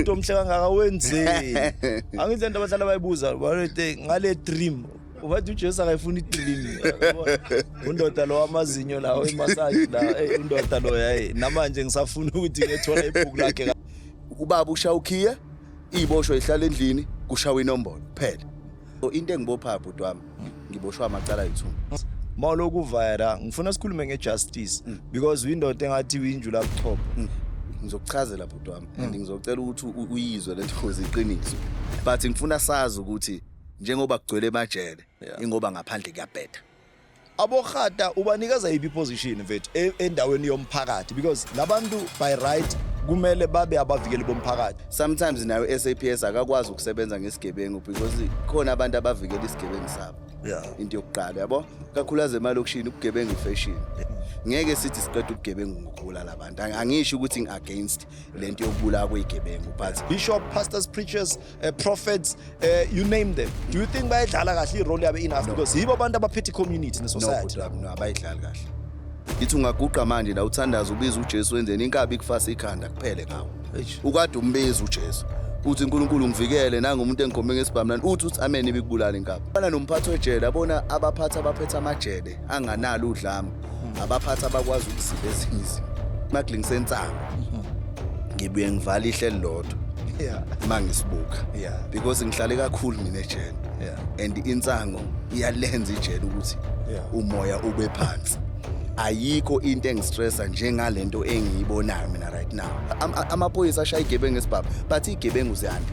umuntu omhle kangaka wenzeni angithi lento abahlala bayibuza bathi ngale dream ubathi uJesu akayifuni idream undoda lo amazinyo lawo imassage la hey undoda lo yayi namanje ngisafuna ukuthi ngethole ibhuku lakhe ubaba ushawukhiye Iboshwe ihlala endlini kushawa inombolo kuphela. Into engibopha bhuti wami ngiboshwa amacala ayithuma. Mawuloku vayera ngifuna sikhulume ngejustice mm. because uyindoda engathi uyinjula buchopho. Mm. Ngizokuchazela bhuti wami and mm. ngizocela ukuthi uyizwe lento ngoze iqiniso. But ngifuna sazi ukuthi njengoba kugcwele emajele ingoba ngaphandle kuyabheda. Abokhata ubanikeza iphi position mfethu e, endaweni yomphakathi because labantu by right kumele babe abavikeli bomphakathi sometimes nayo SAPS akakwazi ukusebenza ngesigebengu because khona abantu abavikela isigebengu sabo yeah into yokuqala yabo kakhulukazi emalokishini ubugebengu ifashion ngeke sithi siqeda ubugebengu ngokubulala abantu angisho ukuthi ngi-against le nto yokubulawa kweyigebengu but bishop pastors preachers uh, prophets uh, you name them do you think bayadlala kahle irole yabe enough no. because yibo abantu abaphethe icommunity nesociety no, no, abayidlali kahle ithi ungaguqa manje la uthandaza ubiza ujesu wenzeni inkabi kufasa ikhanda kuphele ngawo ukade umbiza ujesu uthi uNkulunkulu ngivikele nanga umuntu engikhombe ngesibhamlani uthi uthi amen ibikubulala inkabi bana nomphathi wejele abona abaphathi abaphethe amajele anganalo udlame abaphathi abakwazi ukuziba ezinye izinto smuggling sensango ngibuye ngivala ihlelo lodwa yeah uma ngisibuka yeah because ngihlale kakhulu mina ejele yeah and insango iyalenza ijele ukuthi yeah umoya ube phansi ayikho into engistressa njengalento engiyibonayo mina right now amaphoyisa ashaya igebengu esibhabu but igebengu ziyanda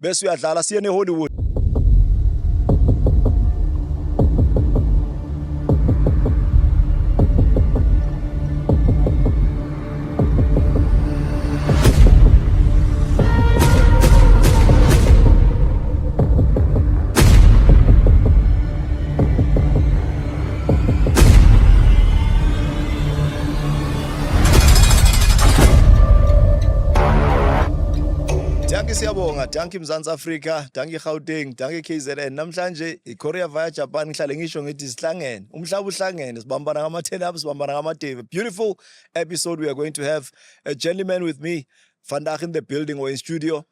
bese uyadlala siye neHollywood Dankie siyabonga, dankie Mzansi Afrika, dankie Gauteng, dankie KZN. Namhlanje iKorea via Japan ngihlale ngisho ngithi sihlangene. Umhlaba uhlangene, sibambana ngamatheni apho sibambana ngamadebe. Beautiful episode we are going to have a gentleman with me. Vandag in the building or in studio.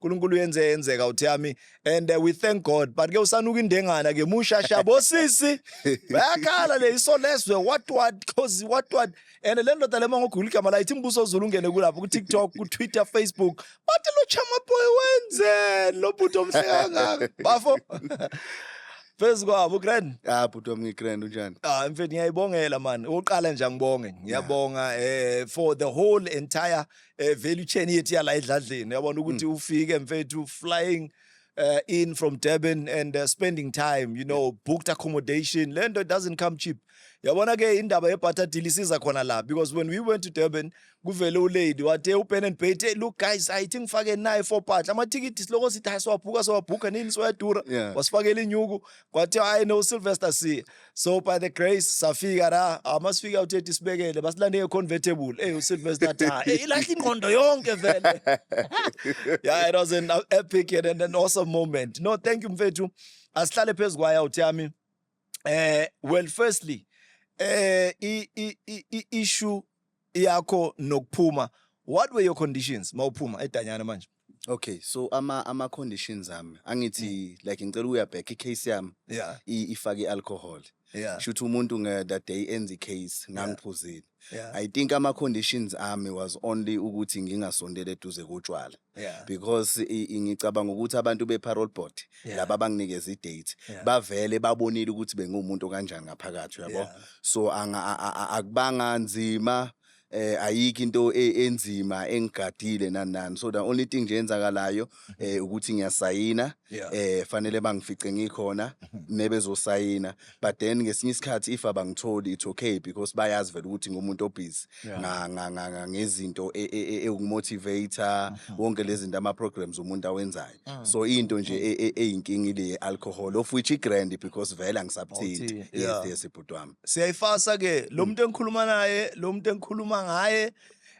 uNkulunkulu uyenze yenzeka uthi yami and uh, we thank God but ke usanuka indengana ke mushasha bosisi bayakhala le iso leswe what what cause what what and le ndoda le mongo gula igama la ithi mbuso zulu ungene kulapho ku TikTok ku Twitter Facebook but lo chama boy wenze lo bhuti omhleka ngaka bafo phezu kwabo grand ah bhuti wami ngigrand unjani ah mfethu ngiyayibongela man uqala nje ngibonge ngiyabonga eh for the whole entire eh value chain yethu yala edladleni yabona ukuthi mm. ufike mfethu flying uh, in from Durban and uh, spending time you know booked accommodation lento doesn't come cheap yabona ke indaba yebutter deal isiza khona la because when we went to Durban kuvele ulady wathe upen and bait hey, look guys i think fake naye for part amathikithi siloko sithi hayi siwabhuka siwabhuka nini soyadura yeah. wasifakela inyuku kwathi hayi no Sylvester si so by the grace safika la amasifika uthethi sibekele basilande ngeconvertible hey uSylvester Tha hey ilahla ingqondo yonke vele yeah it was an epic and an awesome moment no thank you mfethu asihlale phezulu kwaya uthi yami eh well firstly eh i i issue yakho nokuphuma what were your conditions mawuphuma edanyana manje Okay, so ama ama conditions ami angithi mm. like ngicela ukuya back icase yami yeah. ifake ialcohol. Yeah. Shuthi umuntu nge that day enza icase ngangiphuzile. Yeah. I think ama conditions ami was only ukuthi ngingasondele eduze kotshwala. Yeah. Because ngicabanga ukuthi abantu be parole board yeah. laba banginikeza idate yeah. bavele babonile ukuthi bengumuntu kanjani ngaphakathi yabo. Yeah. So anga akubanga nzima eh ayikho into e- enzima engigadile nani nani so the only thing nje enzakalayo eh ukuthi ngiyasayina Yeah. eh fanele bangifice ngikhona nebezosayina but then ngesinye isikhathi if abangitholi it's okay because bayazi vele ukuthi ngumuntu obusy Yeah. nga- nga- nga- nga- ngezinto e- e- e- ewukumotivator wonke lezi zinto ama programs umuntu awenzayo Mm. so into nje mm. e, e, eyinkinga ile alcohol of which igrand because vele angisabuthinti yes yeah. yes ibhuti wami siyayifasa ke lo mm. muntu engikhuluma naye lo muntu engikhuluma ngaye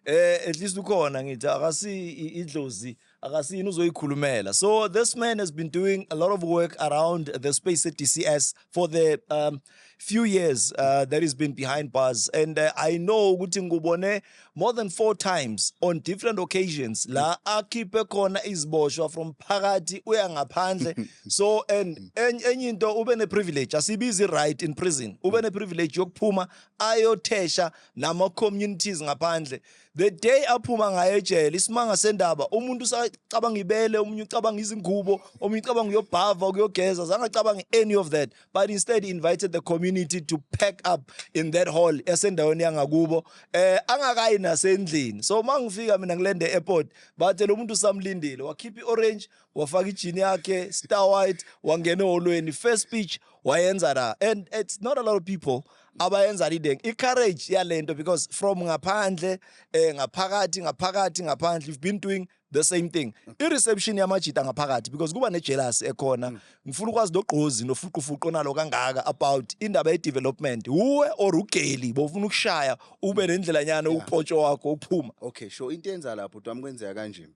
eh at least ukhona ngithi akasi idlozi akasini uzoyikhulumela so this man has been doing a lot of work around the space at DCS for the um, few years uh, that he's been behind bars and uh, i know ukuthi ngubone more than four times on different occasions la akhiphe khona iziboshwa from phakathi uya ngaphandle so and enye into ube ne privilege asibizi right in prison ube ne privilege yokuphuma ayothesha nama communities ngaphandle the day aphuma ngayo ejele isimanga sendaba umuntu usacabanga ibele omunye ucabanga izingubo omunye ucabanga uyobhava ukuyogeza zange acabanga any of that but instead he invited the community to pack up in that hall esendaweni yangakubo eh angakayi nasendlini so mangifika mina ngilende airport bathe lo muntu usamlindile wakhipha iorange wafaka ijini yakhe star white wangena eholweni first speech wayenza la and it's not a lot of people abayenza leading i-courage yalento because from ngaphandle eh ngaphakathi ngaphakathi ngaphandle you've been doing the same thing i-reception yamajita ngaphakathi because kuba nejealous ekhona mm. ngifuna ukwazi nogqozi nofuqufuqu onalo kangaka about indaba ye-development wuwe or ugeli bofuna ukushaya ube nendlela nyana upotsho wakho uphuma okay sho into yenza lapho bhuti wami kwenzeka kanjeni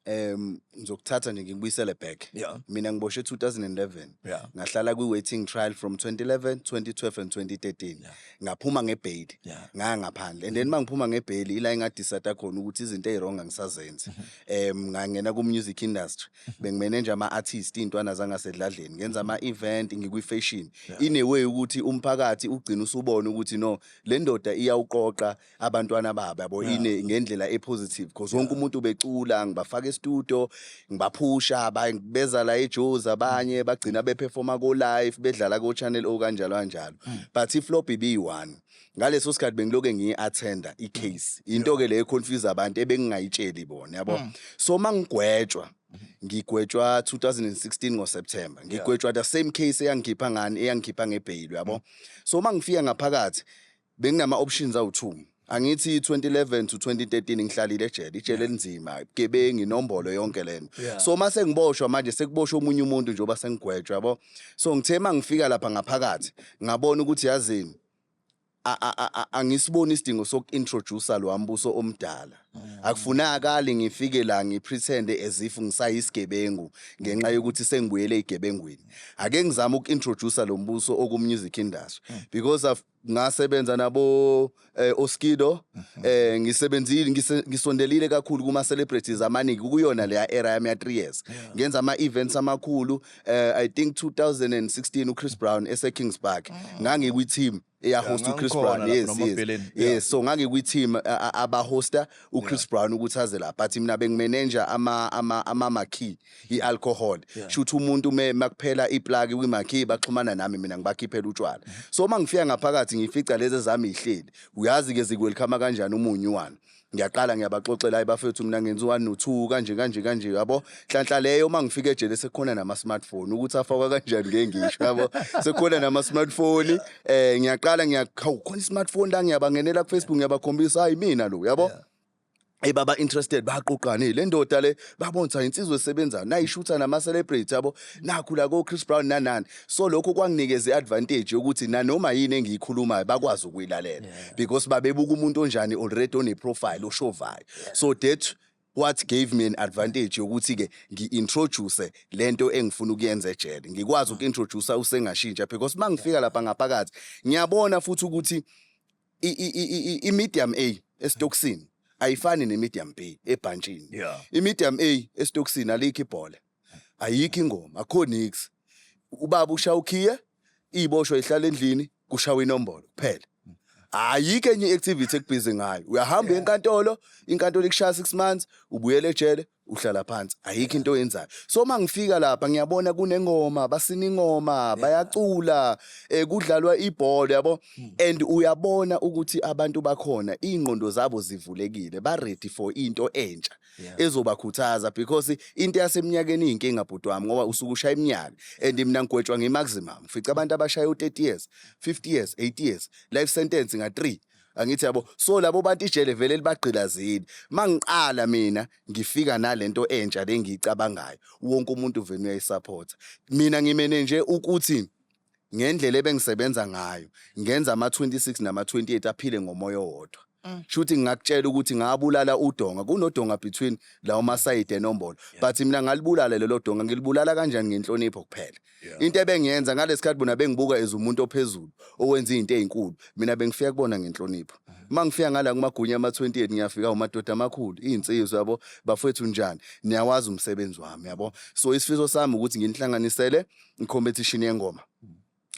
um ngizokuthatha nje ngikubuyisele back yeah. mina ngiboshwe 2011 yeah. ngahlala kwi-waiting trial from 2011 2012 and 2013 yeah. ngaphuma ngebheyili yeah. ngaya ngaphandle and then uma ngiphuma ngebheyili ila engadisata khona ukuthi izinto eyi-wrong angisazenzi um mm-hmm. ngangena ku-music industry mm-hmm. bengimene nje ama-artist iy'ntwana zangasedladleni ngenza mm-hmm. ama-event ngikwi-fashion yeah. ineway ukuthi umphakathi ugcina usubone ukuthi no le ndoda iyawuqoqa abantwana babo yabo Yeah. ine ngendlela epositive because wonke umuntu ubecula ngibafaka estudio ngibaphusha abanye beza la eJozi abanye bagcina beperforma ko live bedlala ko channel o kanjalo kanjalo Mm. but iflop ibiyi-one ngaleso sikhathi bengiloke ngiyi-attenda icase into ke leyo econfuse abantu ebengingayitsheli bona yabo Mm. so uma ngigwetshwa ngigwetshwa 2016 ngoseptember ngigwetshwa the same case eyangikhipha ngani eyangikhipha ngebheyili yabo so uma ngifika ngaphakathi Benginama options awu 2. Angithi 2011 to 2013 ngihlalile ejele, ijele elinzima, igebengi, inombolo yonke lento. Yeah. So mase ngiboshwa manje sekuboshwa omunye umuntu nje oba sengigwetshwa yabo. So ngithe mangifika lapha ngaphakathi, ngabona ukuthi yazini a- a- a- a- angisiboni isidingo soku-introducer lo ambuso omdala akufunakali ngifike la ngipretende as if ngisayisigebengu ngenxa yokuthi sengibuyele eyigebengwini ake ngizame uku-introducer lo mbuso oku-music industry because I've ngasebenza nabo eh, Oskido mhm. eh ngisebenzile ngisondelile kakhulu kuma celebrities amaningi kuyona leya era yami ya 3 years ngenza ama events amakhulu eh i think 2016 uChris Brown ese Kings Park mm. ngangikwi team eya host uChris Brown yes yes yes so ngangikwi team aba hosta uChris Brown ukuthi aze la but mina bengimanager ama ama ama key i-alcohol yeah. shuthi umuntu me makuphela iplaki kwimakhi baxhumana nami mina ngibakhiphela utshwala mm -hmm. so uma ngifika ngaphakathi ngifica lezi zami ihleli uyazi ke zikwelikhama kanjani umunyu wani ngiyaqala ngiyabaxoxela ibafethu mina ngenza u-one no-two kanje kanje kanje yabo nhlanhla leyo uma ngifika ejele sekukhona nama-smartphone ukuthi afakwa kanjani ke ngisho yabo sekukhona nama-smartphone um eh, ngiyaqala ngiyakhona i-smartphone la ngiyabangenela kufacebook ngiyabakhombisa hayi mina lo yabo yeah. Hey baba interested baqoqane le ndoda le babonisa insizwe esebenzayo nayishutha nama celebrity yabo nakhu la ko Chris Brown nanani so lokho kwanginikeza iadvantage yokuthi nanoma yini engiyikhulumayo bakwazi ukuyilalela because babebuka umuntu onjani already one profile oshovayo so that what gave me an advantage yokuthi ke ngiintroduce lento engifuna ukuyenza ejele ngikwazi ukuintroduce usengashintsha because mangifika lapha ngaphakathi ngiyabona futhi ukuthi i-medium A esitokisini ayifani ne-medium B ebhantshini. Yeah. I-medium A esitokisini alikho ibhola. Ayikho ingoma, akho nix. Ubaba ushaya ukhiye, ibosho ihlala endlini, kushawa inombolo kuphela. Ayikho enye i-activity ekubhizi ngayo. Uyahamba enkantolo, inkantolo ikushaya 6 months, ubuyele ejele, uhlala phansi ayikho into oyenzayo so uma ngifika lapha ngiyabona kunengoma basina ingoma bayacula eh, kudlalwa ibhola yabo hmm. and uyabona ukuthi abantu bakhona iy'ngqondo zabo zivulekile ba-ready for into entsha ezobakhuthaza because into yasemnyakeni iy'nkinga bhuti wami ngoba usuke ushaya iminyaka and mina ngigwetshwa ngi-maximum fica abantu abashaya u-30 years 50 years 80 years life sentence nga-3 angithi yabo so labo bantu ijele vele libagqilazile mangiqala mina ngifika nalento entsha lengiyicabangayo wonke umuntu vele uyayisupporta mina ngimene nje ukuthi ngendlela ebengisebenza ngayo ngenza ama 26 nama 28 aphile ngomoya owodwa Mm. shuthi ngingakutshela ukuthi ngabulala udonga kunodonga between lawo masayide enombolo but mina ngalibulala lelo donga ngilibulala kanjani ngenhlonipho kuphela Yeah. into ebengiyenza ngalesikhathi bona bengibuka as umuntu ophezulu owenza izinto ezinkulu mina bengifika kubona ngenhlonipho uma ngifika ngala kumagunya ama-28 ngiyafika umadoda amakhulu iy'nsizwa yabo bafowethu njani niyawazi umsebenzi wami yabo so isifiso sami ukuthi nginihlanganisele i-competition yengoma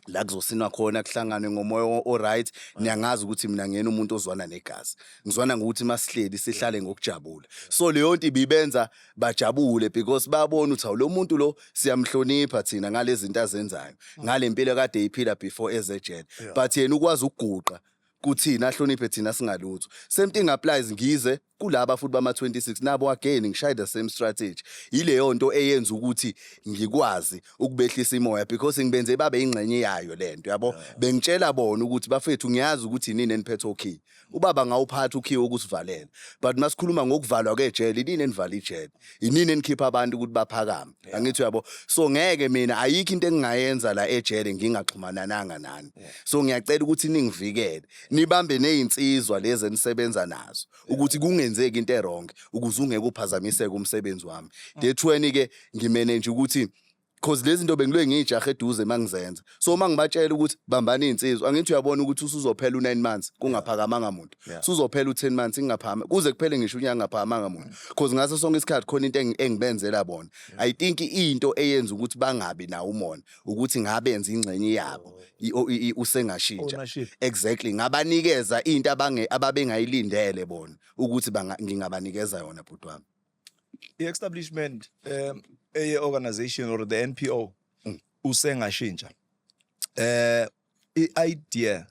la kuzosinwa khona kuhlangane ngomoya o- o-right niyangazi ukuthi mina ngiyena umuntu ozwana negazi ngizwana ngokuthi masihleli sihlale ngokujabula so leyo nto ibibenza bajabule because babona ukuthi awulo muntu lo siyamhlonipha thina ngalezinto azenzayo mm. ngalempilo kade iphila before ezejele but yena ukwazi ukuguqa kuthina ahloniphe thina singalutho same thing applies ngize kulaba futhi bama 26 nabo again ngishaye the same strategy ileyo nto eyenza ukuthi ngikwazi ukubehlisa imoya because ngibenze babe ingxenye yayo lento yabo bengitshela bona ukuthi bafethu ngiyazi ukuthi nini eniphethe okay ubaba ngawuphatha ukhiye ukusivalela but masikhuluma ngokuvalwa kwejele inini enivala ijele inini enikhipha abantu ukuthi baphakame angithi uyabo so ngeke mina ayikho into engingayenza la ejele ngingaxhumanananga nani so ngiyacela ukuthi ningivikele nibambe nezinsizwa lezi enisebenza nazo ukuthi kungenzeki into erong ukuze ungeke uphazamiseke umsebenzi wami dethweni ke ngimanage ukuthi cause lezi zinto bengiloye ngiyijahe eduze uma ngizenza so uma ngibatshela ukuthi bambani iy'nsizwa angithi uyabona ukuthi usuzophela u-nine months kungaphakamanga muntu Yeah. suzophela u-ten months ingaphakama kuze kuphele ngisho unyaka ngaphakamanga muntu cause ngaso sonke isikhathi khona into engi- engibenzela bona i think into eyenza ukuthi bangabi nawo umona ukuthi ngabenza ingxenye yabo i- o- i- i- usengashintsha Ownership. exactly ngabanikeza into abange- ababengayilindele bona ukuthi banga- ngingabanikeza yona bhuti wami i-establishment um eye organization or the NPO mm. usengashintsha eh i-idea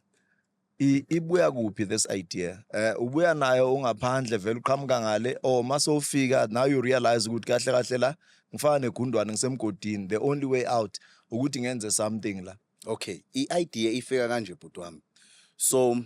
ibuya kuphi this idea eh ubuya nayo ungaphandle vele uqhamuka ngale or oh, mase ufika now you realize ukuthi kahle kahle la ngifana negundwane ngisemgodini the only way out ukuthi ngenze something la okay i-idea ifika kanje bhuti wami so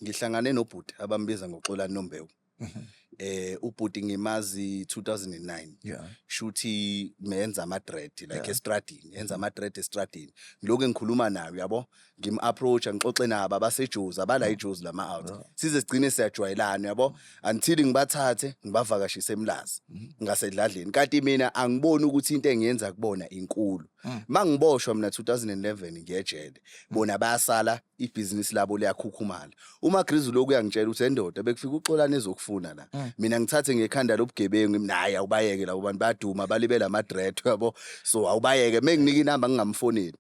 ngihlangane nobhuti abambiza ngoxolani nombewu mhm. eh ubhuti ngimazi 2009 yeah. shuthi menza ama dread like yeah. estradini enza ama dread estradini lokho engikhuluma nayo yabo ngim approach ngixoxe nabo abasejuzi abala mm. ijuzi lama out yeah. size sigcine siyajwayelana yabo until ngibathathe ngibavakashise emlazi mm. ngasedladleni kanti mina angiboni ukuthi into engiyenza kubona inkulu mm. mangiboshwa mina 2011 ngiyejele bona bayasala ibhizinisi labo liyakhukhumala umagrizi uloku uyangitshela ukuthi endoda bekufika uxolani ezokufuna la mm. mina ngithathe ngekhanda lobugebengu naye awubayeke labo bantu baduma balibela amadret yabo so awubayeke menginika inamba ngingamfoneli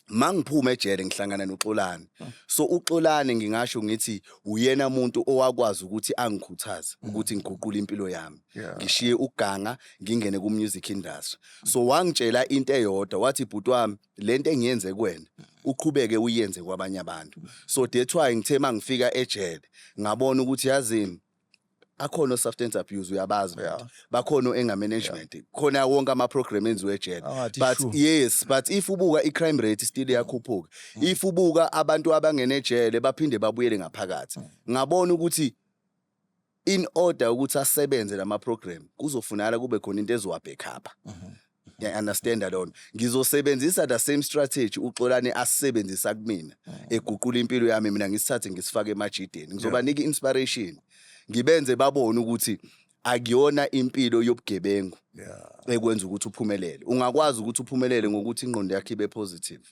mangiphuma ejele ngihlangana noXolani hmm. so uXolani ngingasho ngithi uyena umuntu owakwazi ukuthi angikhuthaze hmm. ukuthi ngiguqule impilo yami ngishiye uganga ngingene ku music industry so wangitshela into eyodwa wathi bhuti wami lento engiyenze kuwena uqhubeke uyenze kwabanye abantu so that's why ngithe mangifika ejele ngabona ukuthi yazini akhona o-substance abuse uyabazi abantu bakhona o-anger management khona wonke ama-program enziwe ejele Angathi but shu. yes but if ubuka i-crime rate still iyakhuphuka if ubuka abantu abangene ejele baphinde babuyele ngaphakathi ngabona ukuthi in order ukuthi asebenze lama program kuzofunakala kube khona into ezowa backup ngiya understand lona ngizosebenzisa the same strategy uxolani asebenzisa kumina eguqula impilo yami mina ngisithathe ngisifake emajideni ngizobanika inspiration ngibenze babone ukuthi akuyona impilo yobugebengu ekwenza ukuthi uphumelele ungakwazi ukuthi uphumelele ngokuthi ingqondo yakhe ibe positive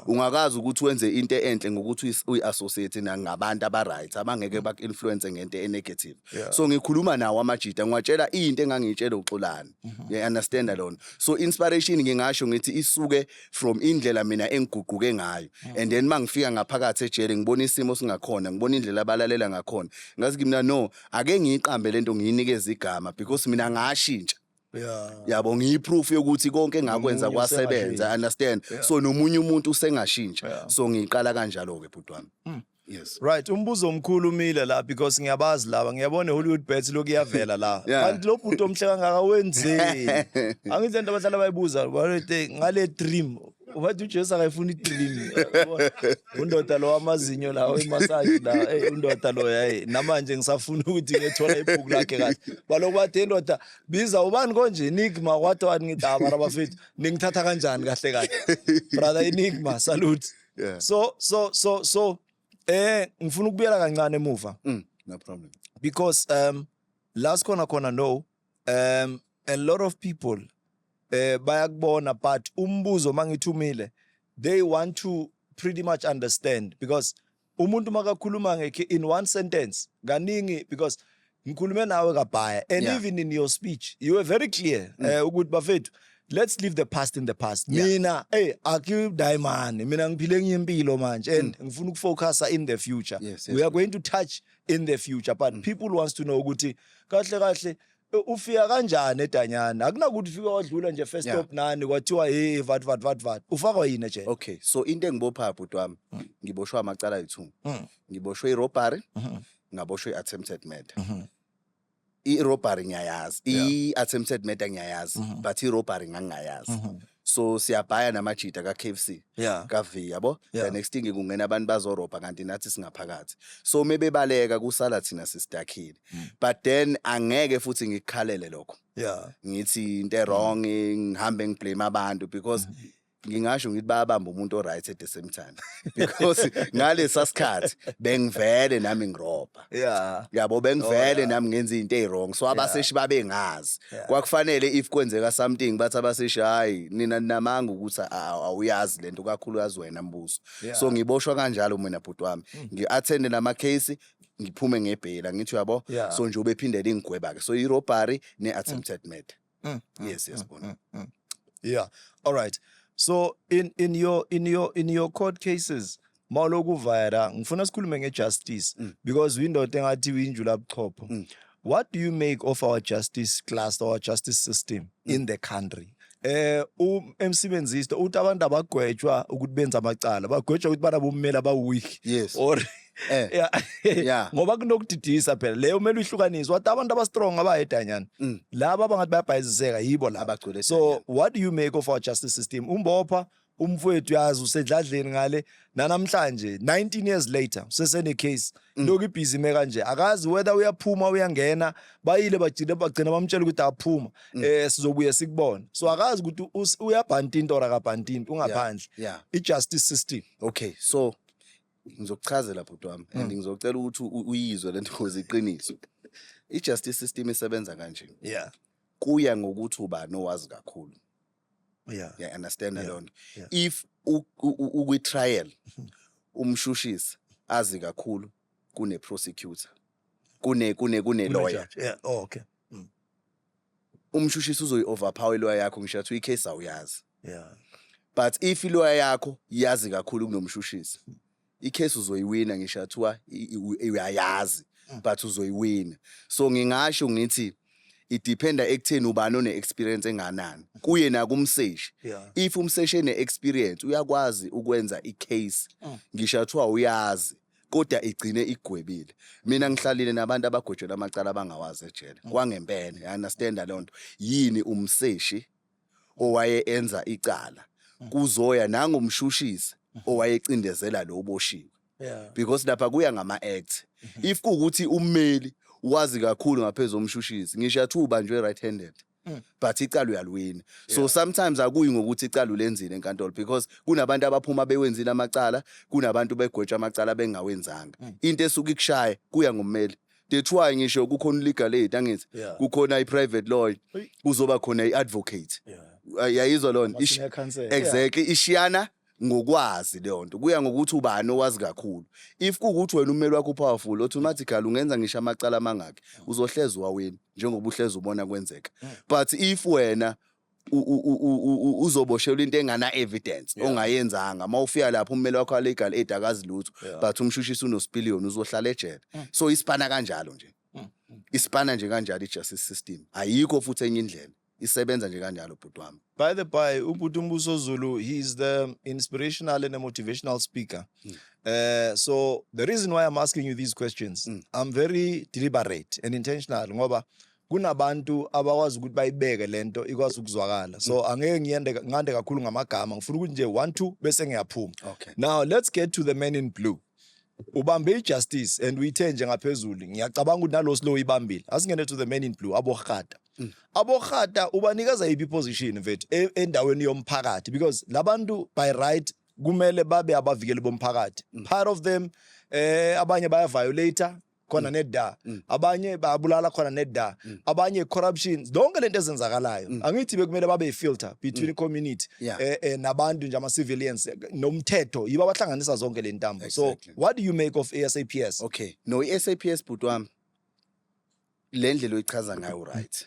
ungakazi ukuthi wenze into enhle ngokuthi uyi-associate nangabantu aba-right abangeke mm. baku-influence ngento e-negative so ngikhuluma nawo amajita ngiwatshela into engangiyitshela uxolani mm-hmm. ngiya-understanda lona so inspiration ngingasho ngithi isuke from indlela mina engiguquke ngayo mm. and then uma ngifika ngaphakathi ejele ngibona isimo singakhona ngibona indlela abalalela ngakhona ngazi kimina no ake ngiyiqambe le nto ngiyinikezwe igama because mina ngashintsha Yeah. yabo ngiyiproof yokuthi konke engakwenza Nomunye kwasebenza usengashintsha. understand Yeah. so nomunye umuntu usengashintsha Yeah. so ngiqala kanjalo ke bhuti wami Mm. yes Right, umbuzo omkhulu umile la because ngiyabazi laba. Ngiyabona Hollywood bets lokhu iyavela la. Yeah. Kanti lo bhuti omhle kangaka wenzeni? Angithi lento abahlala bayibuza balete ngale dream. Wathi uJesu akayifuni dream. Undoda lo amazinyo la wemassage la. Hey undoda lo yayi. Namanje ngisafuna ukuthi ngiyethola ibhuku lakhe kahle. Baloku bathi indoda biza ubani konje enigma wathi wani ngithi ah mara bafethu ningithatha kanjani kahle kahle brother enigma salute Yeah. so so so so eh ngifuna ukubuyela kancane emuva Mm, no problem. because um last khona khona no um a lot of people eh bayakubona but umbuzo mangithumile they want to pretty much understand because umuntu makakhuluma ngekhe in one sentence kaningi because ngikhulume nawe kabhaya and yeah. even in your speech you were very clear mm. uh, ukuthi bafethu let's leave the past in the past yeah. mina hey akudai mani mina ngiphile enye impilo manje and mm. ngifuna ukufocusa in the future yes, yes, we are going to touch in the future but mm. people wants to know ukuthi kahle kahle Eh, ufika kanjani edanyana akunakuthi ufike wadlula nje first Yeah. stop nani kwathiwa hey vat vat vat vat ufakwa yini ejele okay so into engibopha bhuti wami Mm. ngiboshwe amacala ayi-two Mm. ngiboshwe i-robbery Mhm. ngaboshwe i-attempted murder Mhm. i-robbery ngiyayazi Yeah. i-attempted murder ngiyayazi Mhm. but i-robbery ngangingayazi Mhm. so siyabhaya namajita ka-KFC yeah. ka-V yabo yeah. the next thing kungena abantu bazorobha kanti nathi singaphakathi so uma bebaleka kusala thina sisidakhile mm. but then angeke futhi ngikukhalele lokho yeah. ngithi into erong mm. ngihambe ngiblame abantu because mm -hmm ngingasho ngithi bayabamba umuntu oright at the same time because ngalesa sikhathi bengivele nami ngirobha Yeah. yabo bengivele Oh, yeah. nami ngenza into eziwrong so abaseshi babengazi Yeah. kwakufanele if kwenzeka something bathi abaseshi hayi nina ninamanga ukuthi a- a- awuyazi lento kakhulu yazi wena mbuso Yeah. Mm. so ngiboshwa kanjalo mina bhuti wami ngi-athende namacase ngiphume ngebheyila ngithi uyabo Yeah. so nje ubephindele ingigweba-ke so i-robbery ne-attempted murder Mm. mm yes, yes, mm, mm, mm. Yeah. All right. So in in your in your in your court cases mawuloku vayera ngifuna sikhulume ngejustice mm. because windoda engathi winjula buchopho. Mm. What do you make of our justice class or our justice system mm. in the country? eh emsebenzisi uthi abantu abagwetshwa ukuthi benza amacala bagwetshwa ukuthi bana bommeli abaweak yes or Eh. Yeah. Yeah. ngoba kunokudidisa phela leyo kumele uyihlukanise wathi abantu abastrong abahedanyana Mm. laba abangathi bayabhayiziseka yibo laba Abagcwele so what do you make of our justice system umbopha umfowethu yazi usedladleni ngale nanamhlanje 19 years later usesene case Mm. lokhu ibhizi ime kanje akazi whether uyaphuma uyangena bayile bajile bagcina bamtshela ukuthi aphuma Mm. eh sizobuye sikubona so akazi ukuthi us- uyabhantinta or akabhantinta ungaphandle Yeah. ijustice system Okay. So ngizokuchazela bhuti wami and mm. ngizocela ukuthi uyizwe lento ngoze iqiniso i-justice system isebenza kanje yeah kuya ngokuthi ubani owazi kakhulu yeah yeah understand yeah. lonto yeah. if ukwi trial mm-hmm. umshushisi azi kakhulu kune prosecutor kune kune kune lawyer yeah oh, okay umshushisi uzoyi overpower iloya yakho ngisho athi uyicase awuyazi yeah but if iloya yakho yazi kakhulu kunomshushisi icase uzoyiwina ngisho athiwa uyayazi mm. but uzoyiwina so ngingasho ngithi idependa ekutheni ubani one experience enganani kuye nakumseshi yeah. if umseshi ene experience uyakwazi ukwenza icase mm. ngisho athiwa uyazi kodwa igcine igwebile mina ngihlalile nabantu abagwetshela amacala abangawazi ejele mm. kwangempela i understand leyo nto yini umseshi owaye enza icala mm. kuzoya nangomshushisi mm. owayecindezela lo boshiwe because lapha kuya ngama act mm-hmm. if kuukuthi ummeli wazi kakhulu ngaphezulu omshushisi ngisho athuba nje right handed but icala uyaliwina so yeah. sometimes akuyi ngokuthi icala ulenzile enkantolo because kunabantu abaphuma bewenzile amacala kunabantu begwetsha amacala bengawenzanga mm. into esuke ikushaya kuya ngommeli that's why ngisho kukhona legal aid angithi yeah. kukhona i-private lawyer kuzoba khona i-advocate yeah. yayizwa lona exactly yeah. ishiyana ngokwazi leyo nto kuya ngokuthi ubani owazi kakhulu if kuwukuthi wena ummeli wakho upowerful automatically ungenza ngisho amacala amangakhi uzohlezi wawini njengoba uhlezi ubona kwenzeka mm. but if wena uzoboshelwa into engana evidence ongayenzanga uma ufika lapho ummeli wakho alegal aid akazi lutho but umshushisi unosipiliyoni uzohlala ejele mm. so isipana kanjalo nje mm, isipana nje kanjalo i-justice system ayikho futhi enye indlela isebenza nje kanjalo bhuti wami by the by ubhuti umbuso zulu he is the inspirational and a motivational speaker mm. uh, so the reason why i'm asking you these questions mm. i'm very deliberate and intentional ngoba kunabantu abakwazi ukuthi bayibeke lento ikwazi ukuzwakala so mm. angeke ngiyende ngande kakhulu ngamagama ngifuna ukuthi nje 1 2 bese ngiyaphuma okay. now let's get to the man in blue ubambe ijustice and uyithe nje ngaphezulu ngiyacabanga ukuthi nalo slow ibambile asingene to the men in blue abohata mm. abohata ubanikeza iphi position mfethu e, endaweni yomphakathi because labantu by right kumele babe abavikeli bomphakathi mm. part of them eh abanye baya violator khona mm. neda mm. abanye bayabulala khona neda mm. abanye corruption zonke lento ezenzakalayo angithi bekumele babe filter between community eh, eh, nabantu nje ama civilians eh, nomthetho yiba bahlanganisa zonke le ntambo so what do you make of ASAPS okay no iSAPS bhuti wami le ndlela oyichaza ngayo right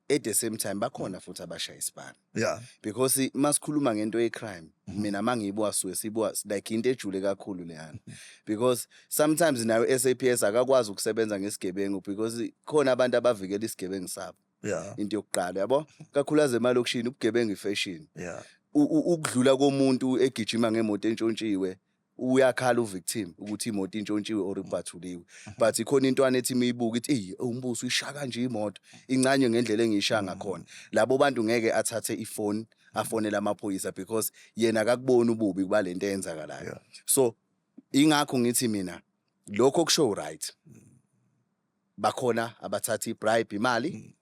at the same time bakhona futhi abashaya isibani yeah because masikhuluma ngento ye crime mhm. mina mangiyibuka suke sibuka like into ejule kakhulu leyana mhm. because sometimes nayo SAPS akakwazi ukusebenza ngesigebengu because khona abantu abavikela isigebengu sabo yeah into yokuqala yabo kakhulaze emalokishini ubugebengu ifashion yeah ukudlula komuntu egijima ngemoto entshontshiwe uyakhala uvictim ukuthi imoto intshontshiwe or ibhathuliwe but ikhona intwana ethi imiyibuka ithi eyi umbuso uyishaya kanje imoto incanywe ngendlela engiyishaya mm. ngakhona labo bantu ngeke athathe ifoni afonele amaphoyisa because yena akakuboni ububi kuba lento eyenzakalayo so ingakho ngithi mina lokho kusho right bakhona abathatha ibribe imali mm.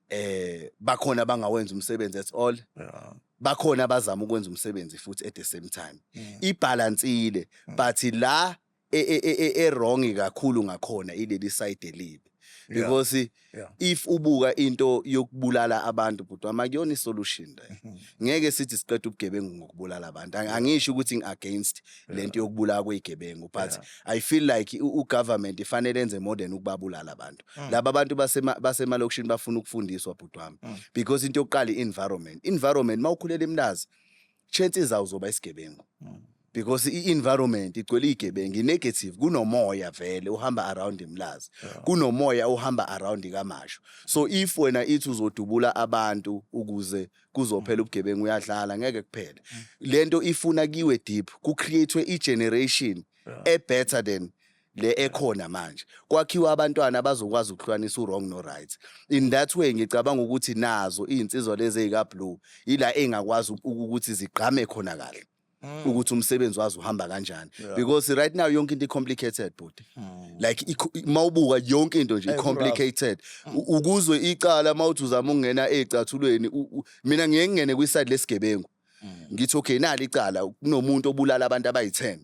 eh bakhona abangawenza umsebenzi at all Yeah. bakhona abazama ukwenza umsebenzi futhi at the same time Mm. ibhalansile Mm. but la e- e- e- e- e-wrong kakhulu ngakhona ileli side elibi Yeah. because Yeah. if ubuka into yokubulala abantu bhuti wami akuyona isolution le Mhm. ngeke sithi siqeda ubugebengu ngokubulala abantu Ang- angisho ukuthi ngi-against lento yokubulawa kwezigebengu but yeah. i feel like ugovernment ifanele enze more than ukubabulala abantu mm. laba abantu basemalokishini basema bafuna ukufundiswa bhuti wami mm. because into yokuqala i-environment environment uma ukhulela emlazi chances zawo zoba isigebengu mm. because i-environment igcwele iy'gebengu i-negative kunomoya vele uhamba around imlazi yeah. kunomoya uhamba around kamasho so if wena ithi uzodubula abantu ukuze kuzophela ubugebengu uyadlala ngeke kuphele lento ifuna kiwe deep ku createwe i generation e better than le ekhona manje kwakhiwa abantwana abazokwazi ukuhlukanisa uwrong no-right in that way ngicabanga ukuthi nazo iy'nsizwa lezi ey'ka-blue yila ey'ngakwazi uku- ukuthi zigqame khona kahle ukuthi umsebenzi wazi uhamba kanjani because right now yonke into i-complicated bhuti like ikho- i- mawubuka yonke into nje i-complicated U- ukuzwe icala mawuthi uzama ukungena eyicathulweni u- u- mina ngiye ngingene kwiside lesigebengu ngithi okay nali icala kunomuntu obulala abantu abayi-10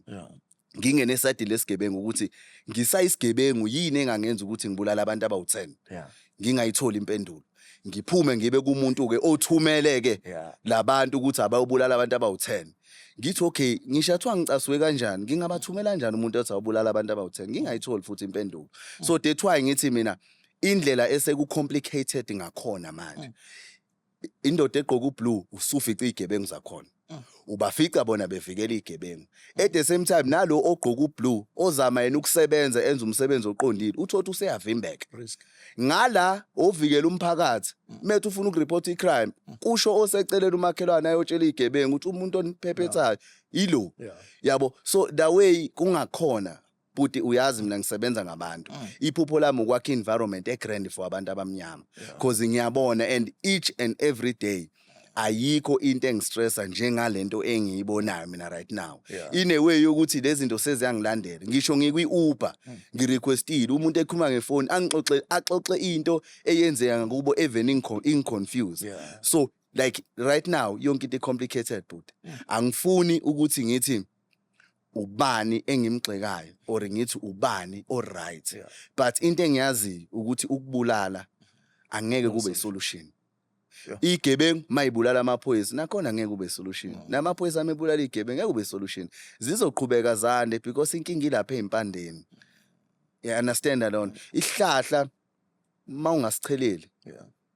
ngingene esayidini lesigebengu ukuthi ngisayisigebengu yini engangenza ukuthi ngibulale abantu abawu-10 yeah. ngingayitholi impendulo ngiphume ngibe kumuntu-ke othumele-ke yeah. labantu ukuthi abayobulala abantu abawu-10 ngithi okay ngisho athiwa ngicasuke kanjani ngingabathumela kanjani umuntu othi awubulala abantu abawu-10 ngingayitholi futhi impendulo so that's why ngithi mina indlela eseku-complicated ngakhona manje mm. indoda egqoka ublue usufica igebengu zakhona mm. ubafica bona bevikela igebengu mm. at the same time nalo ogqoka ublue ozama yena ukusebenza enza umsebenzi oqondile uthothi useyavimbeka ngala ovikela umphakathi mm. methu ufuna ukureport icrime kusho osecelela umakhelwane ayotshela igebengu ukuthi umuntu oniphephethayo ilo yabo so the way kungakhona Bhuti uyazi mina ngisebenza ngabantu. Mm. Iphupho lami ukwakha environment e grand for abantu abamnyama. Cause ngiyabona and each and every day ayikho into engistressa njengalento engiyibonayo mina right now yeah. ine way yokuthi lezinto seziyangilandela ngisho ngikwi Uber hmm. ngirequestile umuntu ekhuluma ngefoni angixoxe axoxe into eyenzeka kubo even inconfused yeah. so like right now yonke into complicated but hmm. angifuni ukuthi ngithi ubani engimgxekayo or ngithi ubani o right yeah. but into engiyaziyo ukuthi ukubulala angeke kube isolution igebengu mayibulala amaphoyisa nakhona ngeke kube solution namaphoyisa amebulala igebengu ngeke kube solution zizoqhubeka zande because inkinga ilapha ezimpandeni yeah understand lona ihlahla mawungasicheleli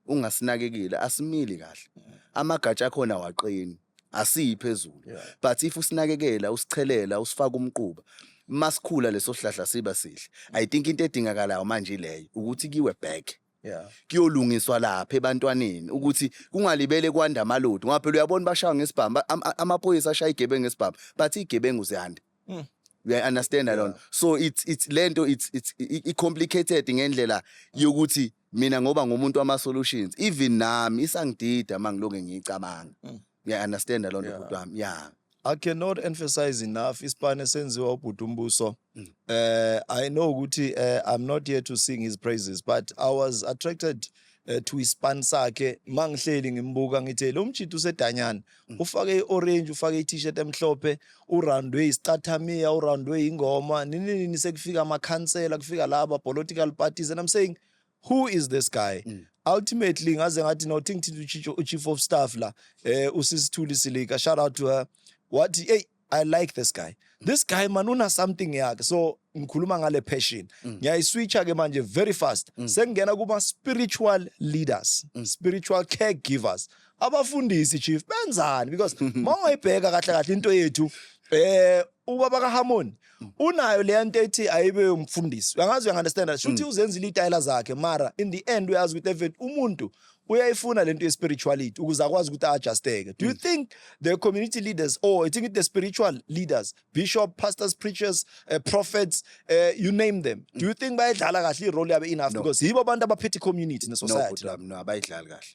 ungasinakekile asimili kahle amagatsha akhona waqini asiyi phezulu yeah. but if usinakekela usichelela usifaka umquba masikhula leso sihlahla siba sihle i think into edingakalayo manje leyo ukuthi kiwe back Yeah. kuyolungiswa lapha ebantwaneni ukuthi kungalibele kwanda amalodi ngoba phela uyabona bashaya ngesibhamu amaphoyisa ashaya igebengu ngesibhamu bathi igebengu ziyanda Mm. You understand yeah. lona. So it's it's lento it's it's it complicated ngendlela yokuthi mina ngoba ngumuntu wama solutions even nami isangidida mangilonge ngicabanga. Mm. You understand lona yeah. bhuti wami. Yeah. I cannot emphasize enough ispan esenziwa ubhuti umbuso. Mm. Uh, I know ukuthi uh, I'm not here to sing his praises but I was attracted ethi uyispan sakhe mangihleli ngimbuka ngithe lo mjita usedanyana mm. ufake i-orange ufake i-t-shirt emhlophe urandwe isicathamiya urandwe ingoma nini nini sekufika amakhansela kufika laba political parties and i'm saying who is this guy mm. ultimately ngaze ngathi no think to chief of staff la eh usisithuli silika shout out to her wathi hey I like this guy. This guy man una something yakhe. So ngikhuluma ngale passion. Mm. Ngiyayiswitcha ke manje very fast. Mm. Sengena kuma spiritual leaders, mm. spiritual caregivers. Abafundisi chief benzani because mawayibheka kahle kahle into yethu eh ubaba kaHarmony unayo le nto ethi ayibe umfundisi uyangazi uyangunderstand shuthi uzenzile itayela zakhe mara in the end uyazi ukuthi even umuntu uyayifuna lento ye spirituality ukuze akwazi ukuthi adjusteke do you mm. think the community leaders or i think the spiritual leaders bishop pastors preachers uh, prophets uh, you name them do you think bayidlala kahle i role yabo enough no. because yibo abantu abaphethe community ne society no, no abayidlali kahle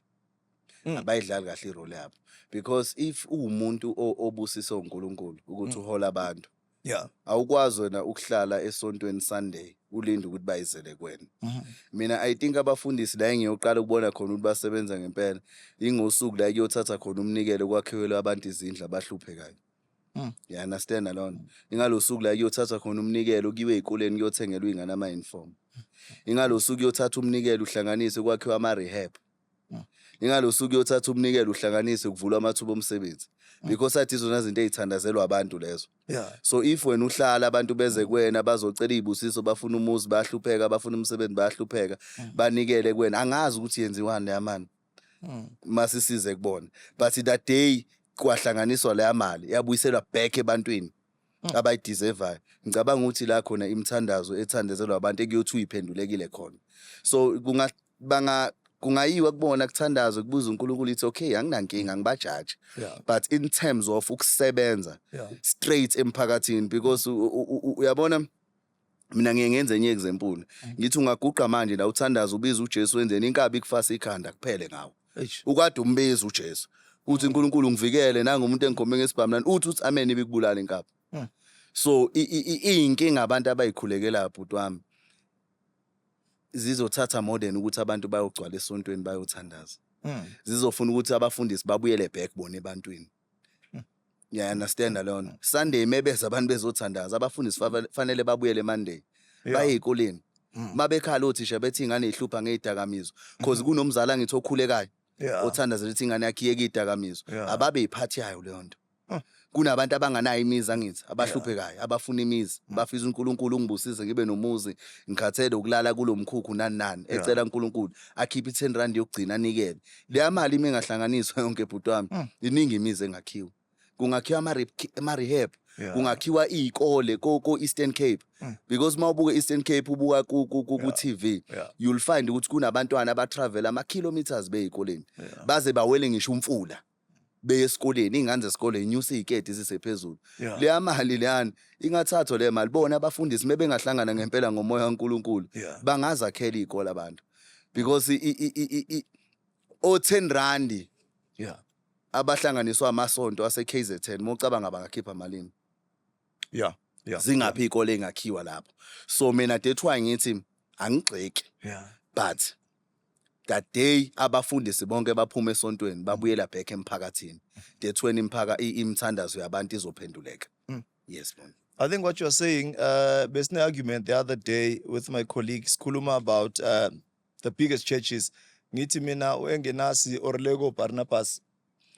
mm. abayidlali kahle i role yabo because if uwumuntu obusiswe uNkulunkulu ukuthi mm. uhola abantu yeah awukwazi wena ukuhlala esontweni Sunday ulinde ukuthi bayizele kwena mhm. mina i think abafundisi la engiyoqala ukubona khona ukuthi basebenza ngempela ingosuku la kuyothatha khona umnikelo kwakhiwelwe abantu izindlu abahluphekayo Mm. Yeah, understand alone. Ingalosuku la kuyothatha khona umnikelo kuyiwe ezikoleni kuyothengelwa ingane ama uniform. Ingalosuku kuyothatha umnikelo uhlanganise kwakhiwa ama rehab. ingalo suku yothatha umnikelo uhlanganise kuvulwa amathuba omsebenzi mm. because athi izona zinto ezithandazelwa abantu lezo yeah. so if wena uhlala abantu beze kuwena bazocela izibusiso bafuna umuzi bahlupheka bafuna umsebenzi bahlupheka mm. banikele kuwena angazi ukuthi yenziwani leya mani mm. masisize kubona but that day kwahlanganiswa leya mali yabuyiselwa back ebantwini Mm. abayideservayo ngicabanga ukuthi la khona imithandazo ethandezelwa abantu ekuyothiwa iphendulekile khona so kunga banga kungayiwa kubona kuthandazwe kubuza uNkulunkulu ithi okay anginankinga ngibajaji yeah. but in terms of ukusebenza yeah. straight emphakathini because uyabona mina ngiye ngenze enye example ngithi ungaguqa manje la uthandaza ubiza uJesu wenzeni inkabi kufasa ikhanda kuphele ngawo Eish. ukade umbiza uJesu uthi uNkulunkulu ngivikele nangu umuntu engikhombe ngesibhamlani uthi uthi amen ibikubulala inkabi Mm. so i- i- i- iyinkinga abantu abayikhulekela bhuti wami zizothatha more than ukuthi abantu bayogcwala esontweni bayothandaza Mm. zizofuna ukuthi abafundisi babuyele back bona ebantwini ngiya understand leyo nto sunday mebeza abantu bezothandaza abafundisi fava- fanele babuyele monday Yeah. baye ey'koleni Mm. uma bekhala othisha bethi ingane ihlupha ngey'dakamizwa cause kunomzali angithi okhulekayo Yeah. othandazela ukuthi ingane yakhe iyeke iy'dakamizwa Yeah. ababe yiphathi yayo leyo nto Huh. kunabantu abanganayo imizi angithi abahluphekayo abafuna imizi Mm. bafisa unkulunkulu ungibusise ngibe nomuzi ngikhathele ukulala kulo mkhukhu nani nani Yeah. ecela unkulunkulu akhiphe i-ten rand yokugcina anikele leya mali uma ingahlanganiswa yonke bhuti wami Mm. iningi imizi engakhiwa kungakhiwa ama-re- ama-rehab Yeah. kungakhiwa iy'kole ko- ko-eastern cape Mm. because uma ubuka i-eastern cape ubuka ku- ku- ku- ku-tv Yeah. you'll find ukuthi kunabantwana abatravela ama-kilometres bey'koleni Yeah. baze bawele ngisho umfula beye esikoleni iy'ngane zesikole yinyusa iy'keti zisephezulu yeah. leya mali leyani ingathathwa leyo mali bona abafundisi uma bengahlangana ngempela ngomoya kankulunkulu yeah. bangazakhela iy'kole abantu because o-ten randi yeah. abahlanganiswa amasonto ase-k z ten uma ucabanga bangakhipha malini yeah. yeah. zingaphi yeah. iy'kole ey'ngakhiwa lapho so mina dethwa ngithi angigxeki yeah. but that day abafundisi bonke baphuma esontweni babuyela back emphakathini that's when imphaka i- imithandazo yabantu izophenduleka Mm. yes mom I think what you're saying, uh, there's an argument the other day with my colleague Skuluma about uh, the biggest churches. Ngithi mina uengenasi Orlego Barnabas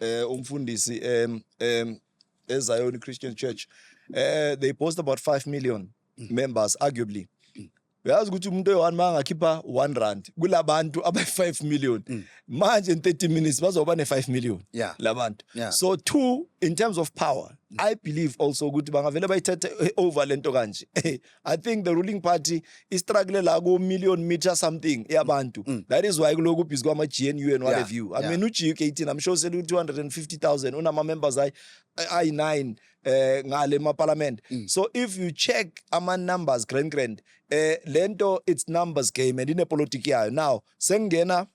eh umfundisi em em eZion Christian Church. Eh they boast about 5 million members arguably. uyazi ukuthi umuntu oyi-one uma angakhipha one rand kula bantu abayi-five million mm. manje in 30 minutes bazoba ne-five million yeah. la bantu yeah. so two in terms of power mm. i believe also ukuthi bangavele bayithethe eh, over le nto kanje i think the ruling party istruggle la ku-million meter something yabantu mm. mm. that is why kuloku ubhizi kwama-g n u and what yeah. have you i yeah. mean ugu eighteen i'm sure selu-two hundred and fifty thousand unama-members ayi-nine eh ngale maparlament mm. so if you check ama numbers grand grand eh lento it's numbers game and ine politics yayo now sengena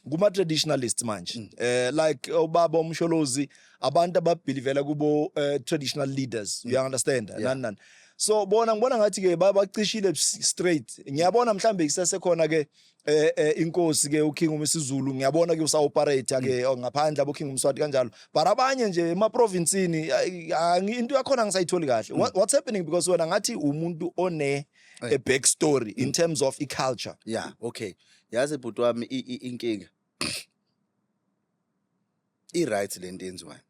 kuma traditionalists manje mm. eh like ubaba umsholozi abantu ababhilivela kubo uh, traditional leaders mm. you understand yeah. nani nani so bona ngibona ngathi ke babacishile straight ngiyabona mhlambe isesekhona ke eh eh inkosi ke uKing uMisizulu ngiyabona ke usaoperate ke mm. oh, ngaphandle abo King uMswati kanjalo but abanye nje ema provincini into yakhona ngisayitholi kahle mm. what's happening because wena ngathi umuntu one a eh. back story in mm. terms of i culture yeah okay yazi bhuti wami inkinga i right lento enziwayo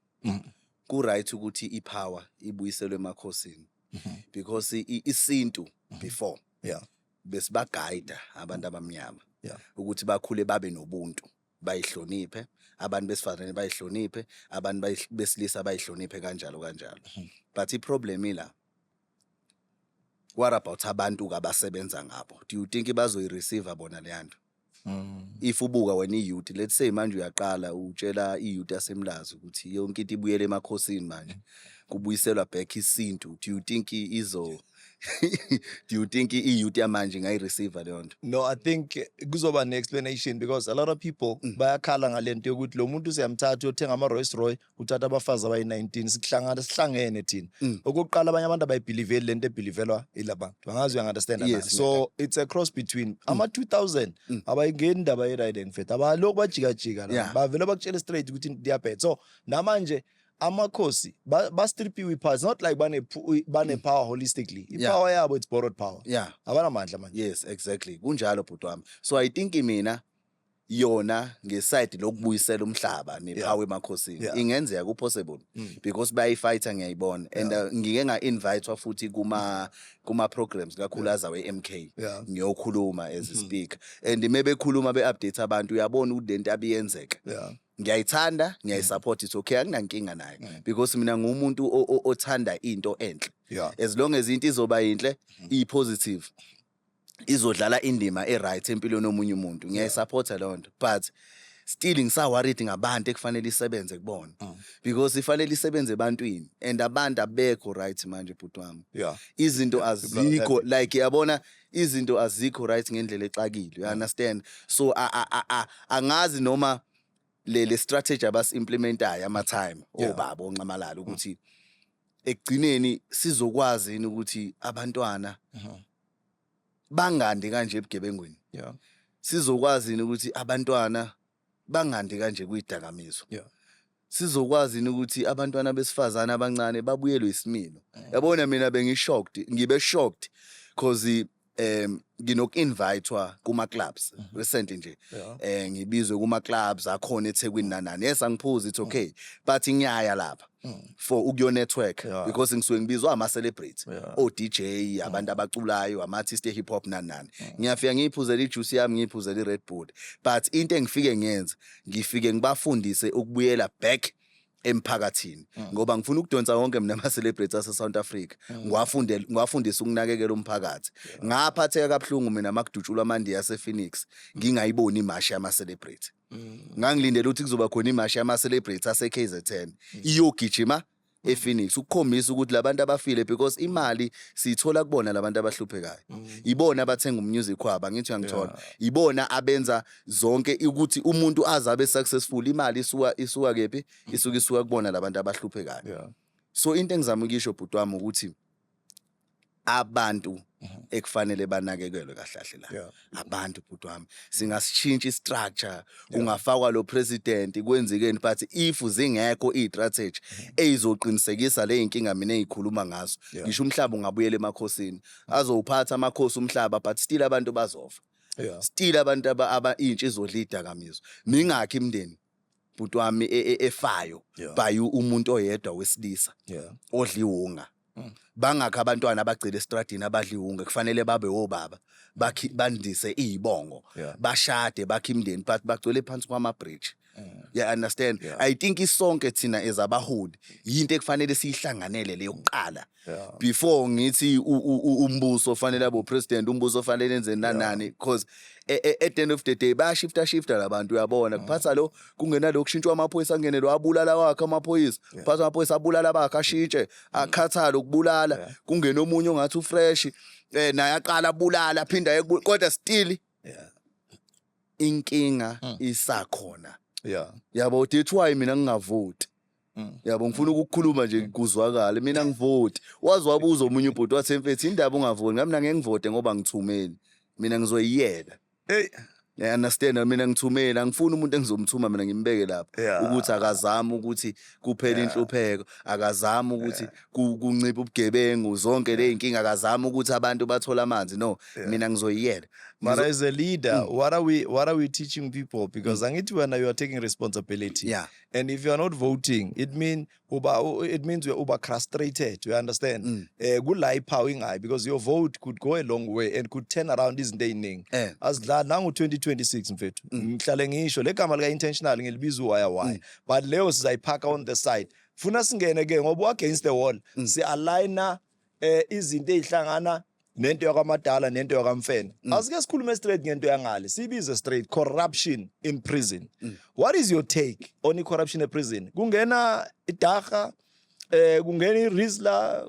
ku right ukuthi i power ibuyiselwe emakhosini mm-hmm. because isintu mm-hmm. before yeah besibagayida abantu abamnyama yeah. ukuthi bakhule babe nobuntu bayihloniphe abantu besifazane bayihloniphe abantu besilisa bayihloniphe kanjalo kanjalo hmm. but iproblem ila what about abantu kabasebenza ngabo do you think bazoyireceive bona leyanto Mm. if ubuka wena iyouth let's say manje uyaqala utshela iyouth yasemlazi ukuthi yonke into ibuyele emakhosini manje kubuyiselwa back isintu do you think i- izo do you think iyouth yamanje ngayireceiver leyo nto No, I think kuzoba ne-explanation because a lot of people Mm. bayakhala ngale nto yokuthi lo muntu siyamthatha uyothenga ama-Rolls Royce kuthatha abafazi abayi-19 sikuhlangana sihlangene thina mm. okokuqala abanye abantu abayibhiliveli le nto ebhilivelwa ila bantu angazi uyangunderstand yes, so it's a cross between mm. ama-2000 mm. abayingeni indaba ye-ride and fet abalokhu bajikajika la yeah. bavele bakutshele straight ukuthi ndiyabhet so namanje amakhosi bastripiwe iphasi not like banepower holistically ipower yabo it's borrowed power yeah abanamandla manje yes exactly kunjalo bhuti wami so i think mina yona ngeside lokubuyisela umhlaba nepower emakhosini Yeah. ingenzeka ku possible Mm. because bayifighter ngiyayibona and uh, ngike nga invite futhi kuma kuma programs kakhulu aza we MK Yeah. Mm-hmm. ngiyokhuluma as a speaker and mebekhuluma be update abantu uyabona ukuthi lento abiyenzeka Yeah. ngiyayithanda ngiyayisupport it's okay anginankinga nayo Mm. because mina ngumuntu o- o- othanda into enhle Yeah. as long as into izoba yinhle iyipositive izodlala indima e-right empilweni yomunye umuntu ngiyayisupporta leyo nto but still ngisaworried ngabantu ekufanele isebenze kubona mm. because ifanele isebenze ebantwini and abantu abekho right manje bhuti wami yeah. izinto azikho like yabona izinto azikho right ngendlela exakile you mm. understand so angazi noma le le strategy abas implementayo ama time Yeah. obaba onxamalala ukuthi ekugcineni sizokwazi yini ukuthi abantwana Mhm. bangandi kanje ebugebengwini Yeah. sizokwazi yini ukuthi abantwana bangandi kanje kwidakamizwa Yeah. sizokwazi yini ukuthi abantwana besifazane abancane babuyelwe isimilo Mm. yabona mina bengishocked ngibe shocked cause um nginoku-invitwa kuma-clubs mhm. recent nje um ngibizwe kuma-clubs akhona ethekwini nanani yes angiphuzi it's okay but ngiyaya lapha mm. for ukuyo-network because ngisuke ngibizwa ama-celebrate o-d j mm. abantu abaculayo ama-artist e-hip hop nani nani mm. ngiyafika ngiyiphuzele ijuice yami ngiyiphuzele i-red bull but into engifike ngenze ngifike ngibafundise ukubuyela back emphakathini mm. ngoba ngifuna ukudonsa wonke mina ama celebrities ase South Africa mm. ngiwafunde ngiwafundisa ukunakekela umphakathi ngaphatheka kabuhlungu mina makudutshulwa amandi yase Phoenix ngingayiboni imashi yama celebrity mm. ngangilindele ukuthi kuzoba khona imashi yama celebrity ase KZN iyogijima ePhoenix ukukhombisa ukuthi labantu abafile because imali siyithola kubona labantu abahluphekayo ibona abathenga umusic wabo angithi uyangithola ibona abenza zonke ukuthi umuntu aze abe successful imali isuka isuka kephi isuka isuka kubona labantu abahluphekayo yeah. so into engizama ukuyisho bhuti wami ukuthi abantu mhm. ekufanele banakekelwe kahlahle la yeah. abantu bhuti wami singasishintsha istructure kungafakwa lo president kwenzekeni but if zingekho istrategy mhm. eyizoqinisekisa le inkinga mina engikhuluma ngazo ngisho umhlaba ungabuyela emakhosini azowuphatha amakhosi umhlaba but still abantu bazofa yeah. still abantu aba intsha izodla idakamizwa mingakhi imndeni bhuti wami e, e, efayo yeah. by umuntu oyedwa wesilisa yeah. odliwunga mm. bangakhi abantwana abagcile estradini abadliwunga kufanele babe obaba bandise izibongo yeah. bashade bakhe imndeni but bagcwele phansi kwama bridge ya understand Yeah. i think isonke thina ezabaholi yinto ekufanele siyihlanganele leyo kuqala Yeah. before ngithi u- u- u- umbuso ofanele abo president umbuso ofanele enze nanani because e- e- at the end of the day bayashifta shifta labantu Mm. uyabona kuphatha lo kungenalo kushintshwa amaphoyisa angene lo abulala wakhe amaphoyisa kuphatha amaphoyisa abulala bakhe ashintshe Mm. akhathale ukubulala kungena omunye ongathi ufresh eh naye aqala abulala aphinde aye kubu- kodwa still Yeah. inkinga Mm. isakhona yeah yabo that's why mina ngingavoti Mm. yabo ngifuna ukukhuluma nje kuzwakale mina ngivoti wazi wabuza omunye ubhuti wathi mfethu indaba ungavoti ngami mina ngeke ngivote ngoba ngithumeni mina ngizoyiyela hey I understand mina ngithumeni angifuni umuntu engizomthuma mina ngimbeke lapha Yeah. ukuthi akazami ukuthi kuphela Yeah. inhlupheko akazami ukuthi ku- kunciphe ubugebengu zonke le y'nkinga akazami ukuthi abantu bathole amanzi no Yeah. mina ngizoyiyela But Ngizo- as a leader, Mm. what are we what are we teaching people? Because angithi wena you are taking responsibility. yeah And if you are not voting, it mean uba u- it means you're uba frustrated. You understand? Mm. Eh kula ipower ingayi because your vote could go a long way and could turn around izinto eziningi. eh Asidla nangu 2026 mfethu. Mm. Ngihlale ngisho legama lika intentional ngilibiza uwaya waya. But leyo sizayiphaka on the side. funa singene ke ngoba uagainst the wall mm. si aligner eh izinto ezihlangana nento yakwamadala nento yakamfene mm. asike sikhulume straight ngento yangale sibize straight corruption in prison mm. what is your take on corruption in prison kungena idaga eh kungena irisla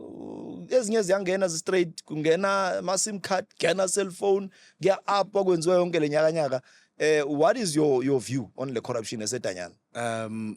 ezinye ziyangena straight kungena ama sim card kena cell phone kuya up okwenziwa yonke lenyaka nyaka eh what is your your view on the corruption esedanyana um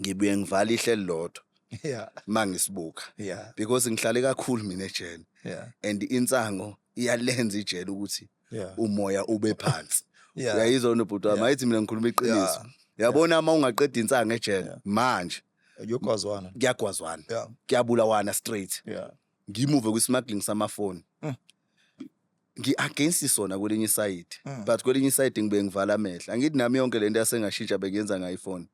ngibuye ngivala ihle elilodwa yeah mangisibuka yeah because ngihlale kakhulu mina ejele yeah and insango iyalenza ijele ukuthi yeah umoya ube phansi yeah uyayizwa wena bhuti wami Yeah. ayithi mina ngikhuluma iqiniso yeah yabona uma ungaqeda insango ejele Yeah. manje yokwazwana kuyagwazwana yeah kuyabulawana straight yeah ngimuve kwi-smuggling samafoni Mm. ngi-against sona kwelinye isayidi Mm. but kwelinye isayidi ngibe ngivala amehla angithi nami yonke le nto yasengashintsha bengiyenza ngayo ifoni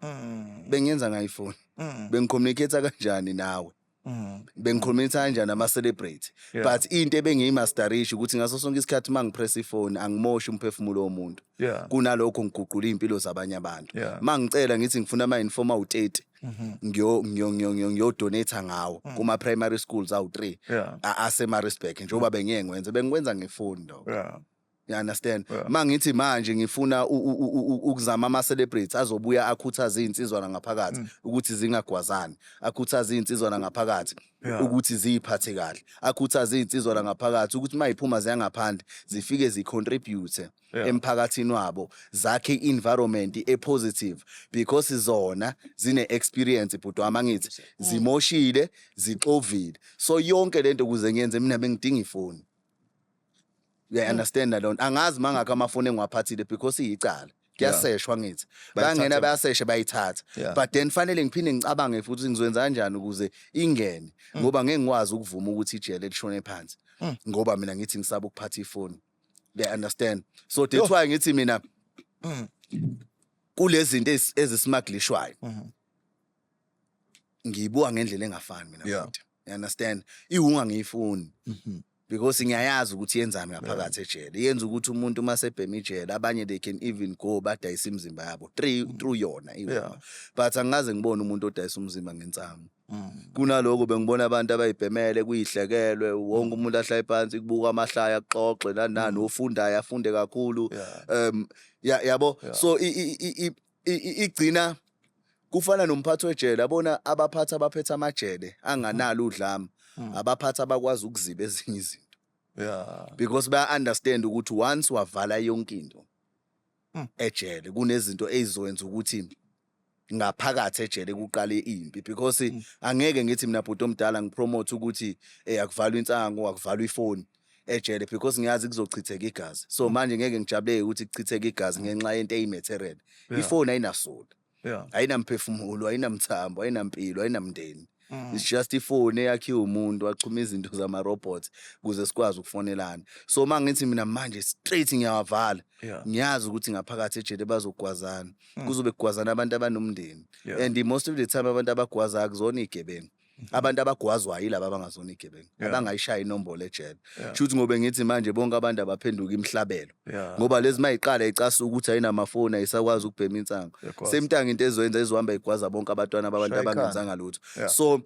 Mm. bengiyenza ngayo ifoni Mm. bengicommunicate kanjani nawe Mm. bengicommunicate kanjani ama-celebrate Yeah. but into ebengiyimastarishi ukuthi ngaso sonke isikhathi uma ngipress ifoni angimoshi umphefumulo womuntu yeah. kunalokho ngiguqula iy'mpilo zabanye abantu yeah. ma ngicela ngithi ngifuna ama-informa awu-30 mhm. ngiyodonatha ngawo mm. kuma-primary schools awu-three yeah. asemarisburg njengoba bengiye ngwenze bengikwenza ngefoni lokho yeah you understand yeah. mangithi manje ngifuna ukuzama ama celebrities azobuya akhuthaza izinsizwa ngaphakathi mm. ukuthi zingagwazani akhuthaza izinsizwa ngaphakathi Yeah. ukuthi ziyiphathe kahle akhuthaze izinsizwa la ngaphakathi ukuthi uma yiphuma ziyangaphandle zifike zicontribute Yeah. emphakathini wabo zakhe i-environment e-positive because zona zine-experience bhuti wami angithi zimoshile zixovile so yonke le nto kuze ngiyenze mina bengidinga ifoni uyayi-understanda loo nto angazi mangakho amafoni engiwaphathile because iyicala kuyaseshwa ngithi Bayithatha. bangena bayaseshe bayithatha Yeah. but then fanele ngiphinde ngicabange futhi ukuthi ngizokwenza kanjani ukuze ingene Mm. ngoba ngeke ngikwazi ukuvuma ukuthi ijele lishone phansi ngoba mina ngithi ngisaba ukuphatha ifoni they understand so that's why ngithi mina Mm. kulezi zinto ezi- ezisimaglishwayo Mhm. ngiyibuka ngendlela engafani mina Yeah. futhi. you understand iwunga ngiyifuni Mhm. because ngiyayazi ukuthi yenzani ngaphakathi ejele yenza ukuthi umuntu uma sebhema ijele abanye they can even go badayisa imizimba yabo three mm. through yona even yeah. but angikaze ngibone umuntu odayisa umzimba ngensangu mm. kunaloko bengibona abantu abayibhemele kuyihlekelwe wonke mm. umuntu ahlale phansi kubuka amahlaya akuxoxe nanani mm. ofundayo afunde kakhulu yeah. um yabo yeah. yeah. so igcina kufana nomphathi wejele abona abaphathi abaphethe amajele anganalo udlame hmm. abaphathi abakwazi ukuziba ezinye izinto yeah because baya understand ukuthi once wavala yonke into hmm. ejele kunezinto ezizowenza ukuthi ngaphakathi ejele kuqale impi because hmm. angeke ngithi mina bhuti omdala ngipromote ukuthi eh akuvalwa insango akuvalwa ifoni ejele because ngiyazi kuzochitheka igazi so mm. manje ngeke ngijabuleke ukuthi kuchitheke igazi mm. ngenxa yento eyimaterial ifoni ayinasoli ayinamphefumulo ayinamthambo ayinampilo ayinamndeni mm. it's just ifoni eyakhiwe umuntu wachuma izinto zama-robot ukuze sikwazi ukufonelana so uma ngithi mina manje straight ngiyawavala ngiyazi ukuthi ngaphakathi ejele bazogwazana kuzobe kugwazana abantu abanomndeni and most of the time abantu abagwazayo kuzona iy'gebengu abantu abagwazwayo yilaba abangazona igebengu abangayishaya inombolo ejele kusho ukuthi ngobe ngithi manje bonke abantu abaphenduka imhlabelo ngoba lezi mayiqala icasuka ukuthi ayinamafoni ayisakwazi ukubhema insango semtanga into ezoyenza izohamba igwaza bonke abantwana babantu abangenzanga lutho so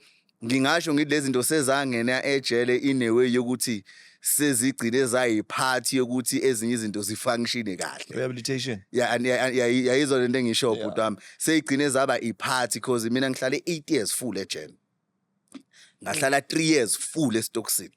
ngingasho ngithi lezi zinto sezangena ejele inewe yokuthi sezigcine zayiphathi yokuthi ezinye izinto zifunctione kahle rehabilitation yeah and yayizona lento engisho bhuti wami seyigcine zaba iphathi because mina ngihlale 8 years full ejen ngahlala 3 years full estoxin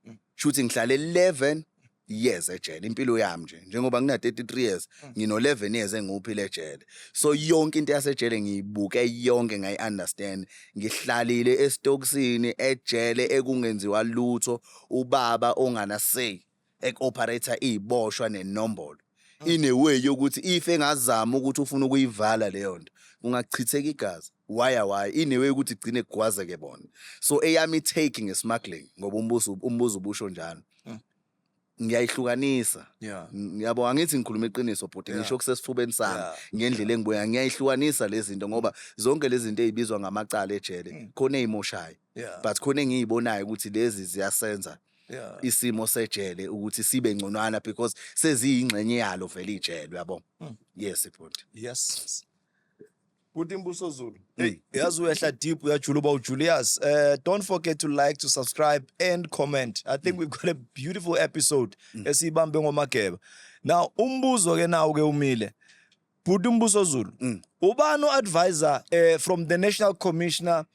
mm. shuthi ngihlale 11 years ejele impilo yami nje njengoba ngina 33 years mm. ngino 11 years engiwuphile ejele so yonke into yasejele ngiyibuke yonke ngayi understand Ngihlalile esitokisini ejele ekungenziwa lutho ubaba ongana say ek operator iziboshwa nenombolo. In a way yokuthi if engazama ukuthi ufuna ukuyivala leyo nto kungachitheka igazi. Why why in a way ukuthi igcine kugwazeke bona. So eyami take ngesmuggling ngoba umbuzo umbuzo ubusho njalo. ngiyayihlukanisa yeah. yabo angithi ngikhuluma iqiniso bhuti yeah. ngisho kusesifubeni sami yeah. ngendlela engibuya yeah. ngiyayihlukanisa lezi zinto ngoba zonke lezi zinto ezibizwa ngamacala ejele mm. khona ezimoshayo yeah. but khona engiyibonayo ukuthi lezi ziyasenza yeah. isimo sejele ukuthi sibe ngconwana because seziyingxenye yalo vele ijele yabo mm. yes bhuti yes Bhuti Mbuso Zulu. Hey, yazi uyehla deep uyajula uba uJulius. Uh, don't forget to like, to subscribe and comment. I think mm. we've got a beautiful episode mm. esiyibambe ngomageba. Now umbuzo ke nawo ke umile. Bhuti Mbuso Zulu. Mm. Ubani advisor uh, eh, from the National Commissioner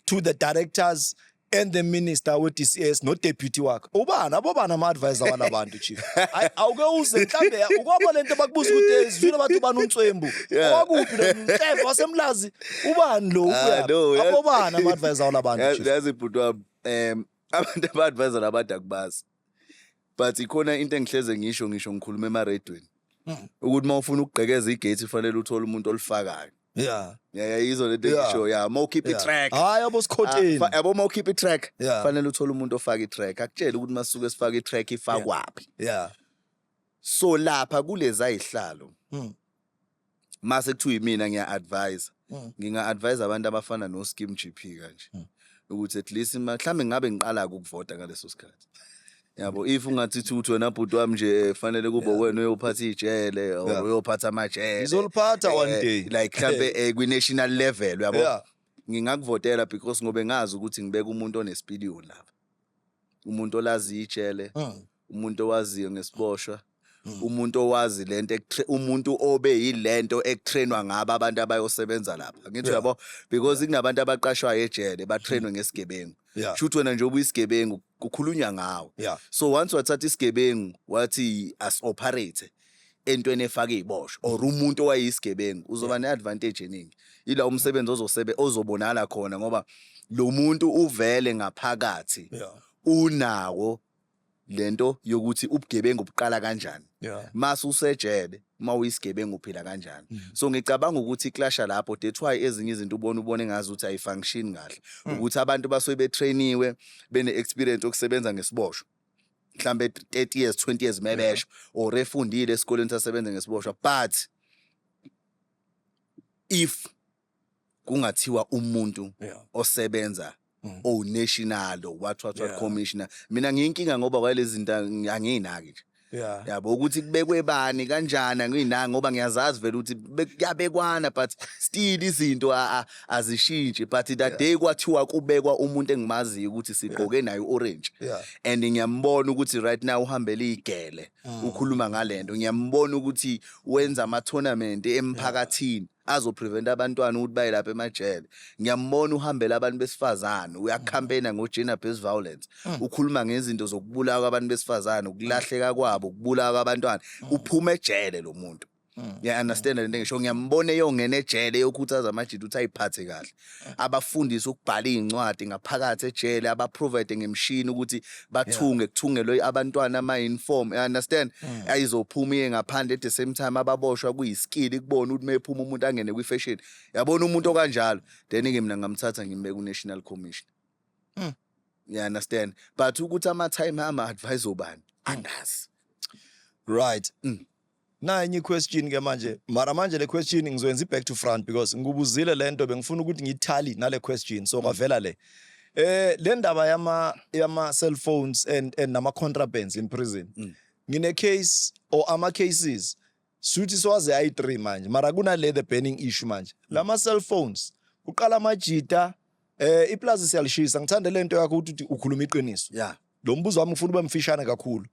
to the directors and the minister we-dcs nodeputy wakhe ubani abobani ama-advisor wala bantu chief Ay- awuke uze mhlawumbe ya- ukwaba le nto bakubuza ukuthi eh, sizwile bathi ubani unswembu Yeah. owakuphi nomhleva wasemlazi ubani lo Ah, ukuyaphi? no, yeah. abobani ama-advisor wala bantu Yazi- chief yazi bhuti wami um abantu aba-advisor abade akubazi but ikhona into engihleze ngisho ngisho ngikhuluma emaredweni hmm. ukuthi uma ufuna ukugqekeza igate ufanele uthole umuntu olifakayo yeah yeah yeah yizo lento engisho yeah uma ukhipha itrack hayi yabo sikhotheni ah, yabo uma ukhipha itrack fanele uthole umuntu ofaka itrack akutshele ukuthi masuke sifaka itrack ifakwaphi yeah so lapha kulezi ayihlalo hmm. mase kuthiwa imina ngiya advise mm. nginga advise abantu abafana no Skim GP kanje mm. ukuthi at least mhlawumbe ngabe ngiqala ukuvota ngaleso sikhathi yabo if ungathi thuthi wena bhuti wami nje eh, fanele kube wena uyophatha ijele or uyophatha amajele izoliphatha one eh, day like mhlambe eh, kwi national level yabo ngingakuvotela because ngobe ngazi ukuthi ngibeka umuntu onesipiliyoni lapha umuntu olaziyo ijele Mm. umuntu owaziyo ngesiboshwa Mm. umuntu owazi lento ekutre- umuntu obe yilento ekutrainwa ngabo abantu abayosebenza lapha ngithi Yeah. uyabo because kunabantu abaqashwayo ejele batrainwe ngesigebengu Yeah. shuthi wena njengoba uyisigebengu kukhulunywa ngawe Yeah. so once wathatha isigebengu wathi as-operate entweni efaka iziboshwa or umuntu owayeyisigebengu uzoba neadvantage eningi ila umsebenzi ozosebe ozobonala khona ngoba lo muntu uvele ngaphakathi Yeah. unawo lento yokuthi ubugebengu buqala kanjani Yeah. mase usejele uma uyisigebengu uphila kanjani so ngicabanga ukuthi iklasha lapho that's why ezinye izinto ubona ubone ngazi ukuthi ayifunction kahle ukuthi abantu basuke betrainiwe bene-experience yokusebenza ngesiboshwa mhlambe 30 years 20 years mebesho or efundile esikoleni sasebenze ngesiboshwa but if kungathiwa umuntu Yeah. osebenza Mm. o national or what what what Yeah. commissioner mina ngiyinkinga ngoba kwalezi zinto angi- anginaki nje Yeah. yabo ukuthi kubekwe bani kanjani anginaki ngoba ngiyazazi vele ukuthi be- kuyabekwana but still izinto a- a- azishintshi but that day kwathiwa kubekwa umuntu engimaziyo ukuthi sigqoke naye orange Yeah. and ngiyambona ukuthi right now uhambela igele Mm. ukhuluma ngalento ngiyambona ukuthi wenza ama tournament emphakathini azoprevent abantwana ukuthi baye lapha emajele ngiyambona uhambela abantu besifazane Mm. uyacampaigna ngo gender based violence ukhuluma ngezinto zokubulawa kwabantu besifazane ukulahleka kwabo ukubulawa kwabantwana Mm. uphuma ejele lo muntu Mm. Yeah, understand lento ngisho ngiyambona eyongena ejele yokhuthaza amajita ukuthi ayiphathe kahle. Mm. Abafundise ukubhala izincwadi ngaphakathi ejele, abaprovide ngemshini ukuthi bathunge kuthungelwe abantwana ama uniform. You understand? Mm. Ayizophuma iye ngaphandle at the same time ababoshwa kuyiskill kubona ukuthi mephuma umuntu angene kwi fashion. Yabona umuntu okanjalo, then ke mina ngamthatha ngimbeka ku National Commission. Mm. You understand? But ukuthi ama time ama advise obani? Angazi. Right. Mm. Nayi enye question ke manje mara manje le question ngizoyenza back to front because ngikubuzile lento bengifuna ukuthi ngiyithali nale question so kwavela le eh le ndaba yama yama cell phones and and nama contrabands in prison mm. ngine case or ama cases suthi swaze ayi 3 manje mara kuna le the banning issue manje mm. lama cell phones uqala amajita eh iplaza siyalishisa ngithanda lento yakho ukuthi ukhuluma iqiniso yeah Lo mbuzo wami ngifuna ube mfishane kakhulu.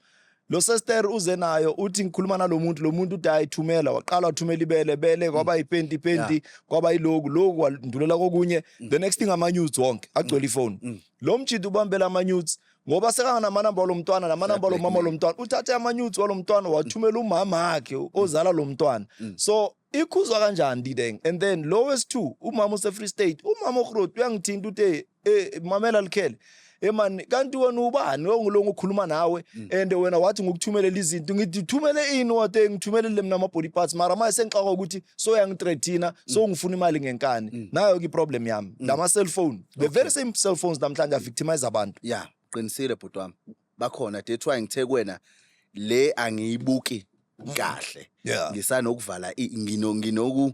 Lo sister uze nayo uthi ngikhuluma nalomuntu lomuntu uthi ayithumela waqala wathumela ibele bele kwaba ipenti ipenti kwaba iloku loku wandulela kokunye the next thing ama nudes wonke agcwele ifone. Lo mjidi ubambela ama nudes ngoba sekanganamanaamba lomntwana namanaamba lomama lomntwana uthathe amanyuthi walomntwana wathumela umama wakhe ozala lomntwana so ikhuzwa kanjani dideng and then lo wesi-two umama use-free state umama ohrot uyangithinta uthe eh, mamela likhele emani kanti wena ubani ongilonga ukhuluma nawe mm. and wena wathi ngikuthumelela izinto ngithi thumele ini wate ngithumelele mina ama body parts mara manje sengixaka ukuthi so yangithreatina mm. so ngifuna imali ngenkani mm. nayo ke problem yami ngama cellphone the very same cellphones namhlanje a victimize abantu yeah qinisile bhuti wami bakhona that's why ngithe kuwena le angiyibuki kahle Yeah. ngisanokuvala i- ngino nginoku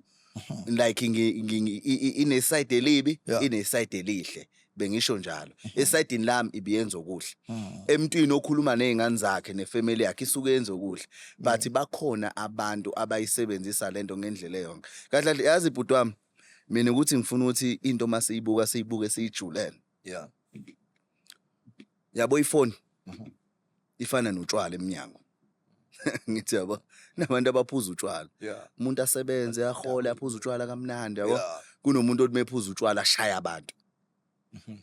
like ngi- ngi- ngi- i- i- ineside elibi Yeah. ineside elihle bengisho njalo esidini lami ibiyenza okuhle emntwini okhuluma nezingane zakhe nefamily yakhe isuke yenza okuhle but bakhona abantu abayisebenzisa lento ngendlela eyonke kahle kahle yazi bhuti wami mina ukuthi ngifuna ukuthi into masiyibuka siyibuke siyijulele Yeah. Yabo ifoni mhm. ifana notshwala eminyango. Ngithi yabo nabantu abaphuza utshwala. Umuntu asebenze ahole aphuza utshwala kamnandi yabo. Kunomuntu othi mephuza utshwala ashaya abantu. Mhm.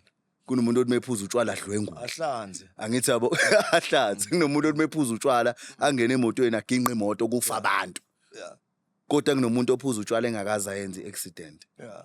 kunomuntu othi mephuza utshwala adlwengule ahlanze angithi yabo ahlanze kunomuntu othi mephuza utshwala angene emotweni aginqe imoto kufa abantu kodwa kunomuntu ophuza utshwala engakaze ayenze i-accident yeah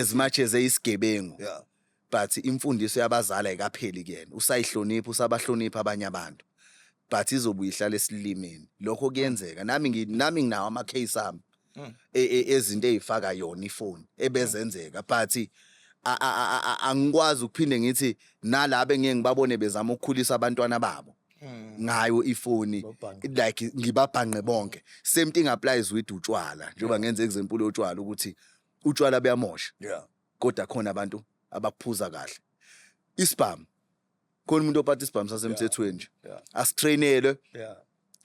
as much as eyisigebengu yeah. but imfundiso yabazali ayikapheli kuyena usayihlonipha usabahlonipha abanye abantu but izobuye ihlale esilimini lokho kuyenzeka nami nami nginawo ama case ami hmm. e, e, ezinto ezifaka yona ifoni ebezenzeka but angikwazi ukuphinde ngithi nalabo engeke ngibabone bezama ukukhulisa abantwana babo hmm. ngayo ifoni like ngibabhanqe bonke same thing applies with utshwala njengoba ngenza example yotshwala ukuthi utshwala buyamosha yeah kodwa khona abantu abakuphuza kahle isibhamu khona umuntu ophatha isibhamu sasemthethweni nje asitrainelwe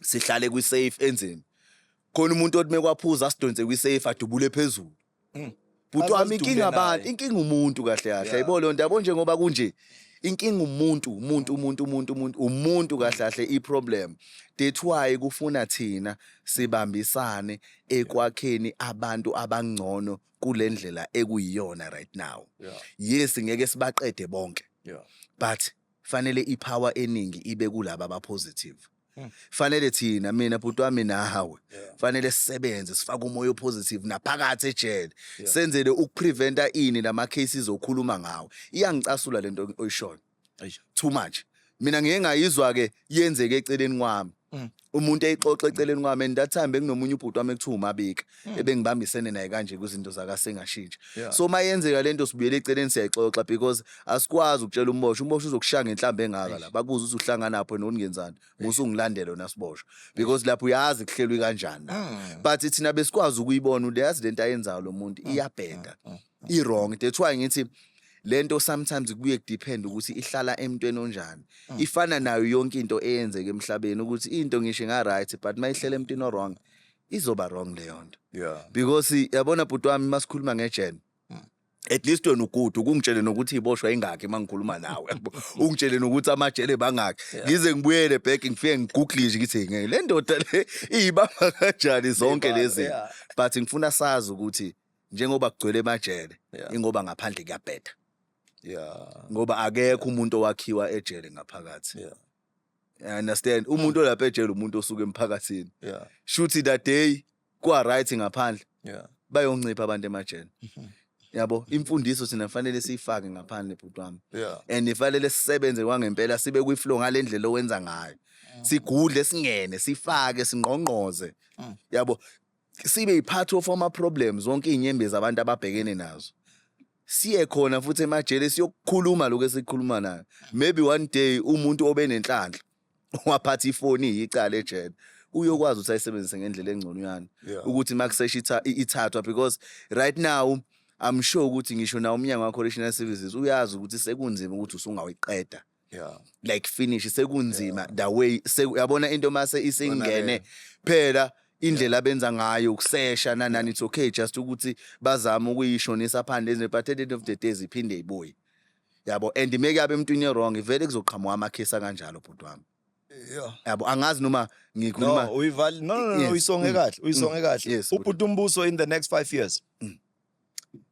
sihlale kwi-safe enzeni khona umuntu othi mekwaphuza asidonse kwi-safe adubule phezulu hmm. bhuti wami inkinga abantu inkinga umuntu kahle kahle ayibo leyo nto yabo njengoba kunje inkinga umuntu umuntu umuntu umuntu umuntu umuntu kahle kahle iproblem that's why kufuna thina sibambisane ekwakheni abantu abangcono kule ndlela ekuyiyona right now yeah. yes ngeke sibaqede bonke yeah. but fanele ipower eningi ibe kulaba abapositive hmm. fanele thina mina bhuti wami nawe fanele sisebenze sifake umoya opositive naphakathi ejele senzele ukupreventa ini lama cases okhuluma ngawo iyangicasula lento oyishona Eish, too much mina ngeke ngayizwa ke yenzeke eceleni kwami Mm. umuntu eyixoxa eceleni kwami and that time bekunomunye ubhuti wami ekuthiwa umabika ebengibambisene naye kanje kwizinto zakasengashintsha Mm. Yeah. so uma yenzeka le nto sibuyele eceleni siyayixoxa because asikwazi ukutshela umbosho umbosho uzokushaya ngenhlamba engaka la bakuze ukuthi uhlanganapho noningenzani musungilandele wena siboshwa because lapho uyazi kuhlelwe kanjani la Mm. but thina besikwazi ukuyibona uyazi lento ayenzayo lo muntu iyabheda i wrong that's why ngithi lento sometimes kuye depend ukuthi ihlala emntweni onjani mm. ifana nayo yonke into eyenzeka emhlabeni ukuthi into ngisho nga right but mayihlela emntwini wrong izoba wrong leyo nto yeah because yabona bhuti wami masikhuluma ngejene mm. at least wena ugudu ukungitshele nokuthi iboshwa ingakhe mangikhuluma nawe ungitshele nokuthi amajele bangakhe ngize ngibuyele back ngifike ngigoogle nje ngithi ngeke le ndoda le iyibamba kanjani zonke lezi but ngifuna sazi ukuthi njengoba kugcwele emajele yeah. ingoba ngaphandle kuyabheda yeah ngoba akekho umuntu owakhiwa ejele ngaphakathi yeah I understand umuntu olapha ejele umuntu osuke emphakathini yeah shuthi that day kwa right ngaphandle yeah bayoncipha abantu emajele mhm. yabo imfundiso sina fanele siyifake ngaphandle bhuti wami yeah and ifanele sisebenze kwangempela sibe kwi flow ngalendlela owenza ngayo mm. sigudle singene sifake singqongqoze mm. yabo sibe yipart of ama problems wonke inyembezi abantu ababhekene nazo siye khona futhi emajele siyokukhuluma lokho esikhuluma nayo maybe one day umuntu obenenhlanhla waphatha ifoni yicala ejele uyokwazi ukuthi ayisebenzise ngendlela engcono yani ukuthi makusesha ithathwa because right now I'm sure ukuthi ngisho na umnyango wa correctional services uyazi ukuthi sekunzima ukuthi usungawiqeda yeah like finish sekunzima yeah. the way se yabona into mase isingene phela indlela abenza ngayo ukusesha nanani it's okay just ukuthi bazama ukuyishonisa phandle ezwe but at the end of the day ziphinde ibuye yabo and make yabe emntwini wrong vele kuzoqhamuka amakhesi kanjalo bhuti wami Yeah. Yabo angazi noma ngikhuluma No, uyivali no no no, no uyisonge mm. kahle, uyisonge mm. kahle. Ubhuti umbuso in the next 5 years. Mm.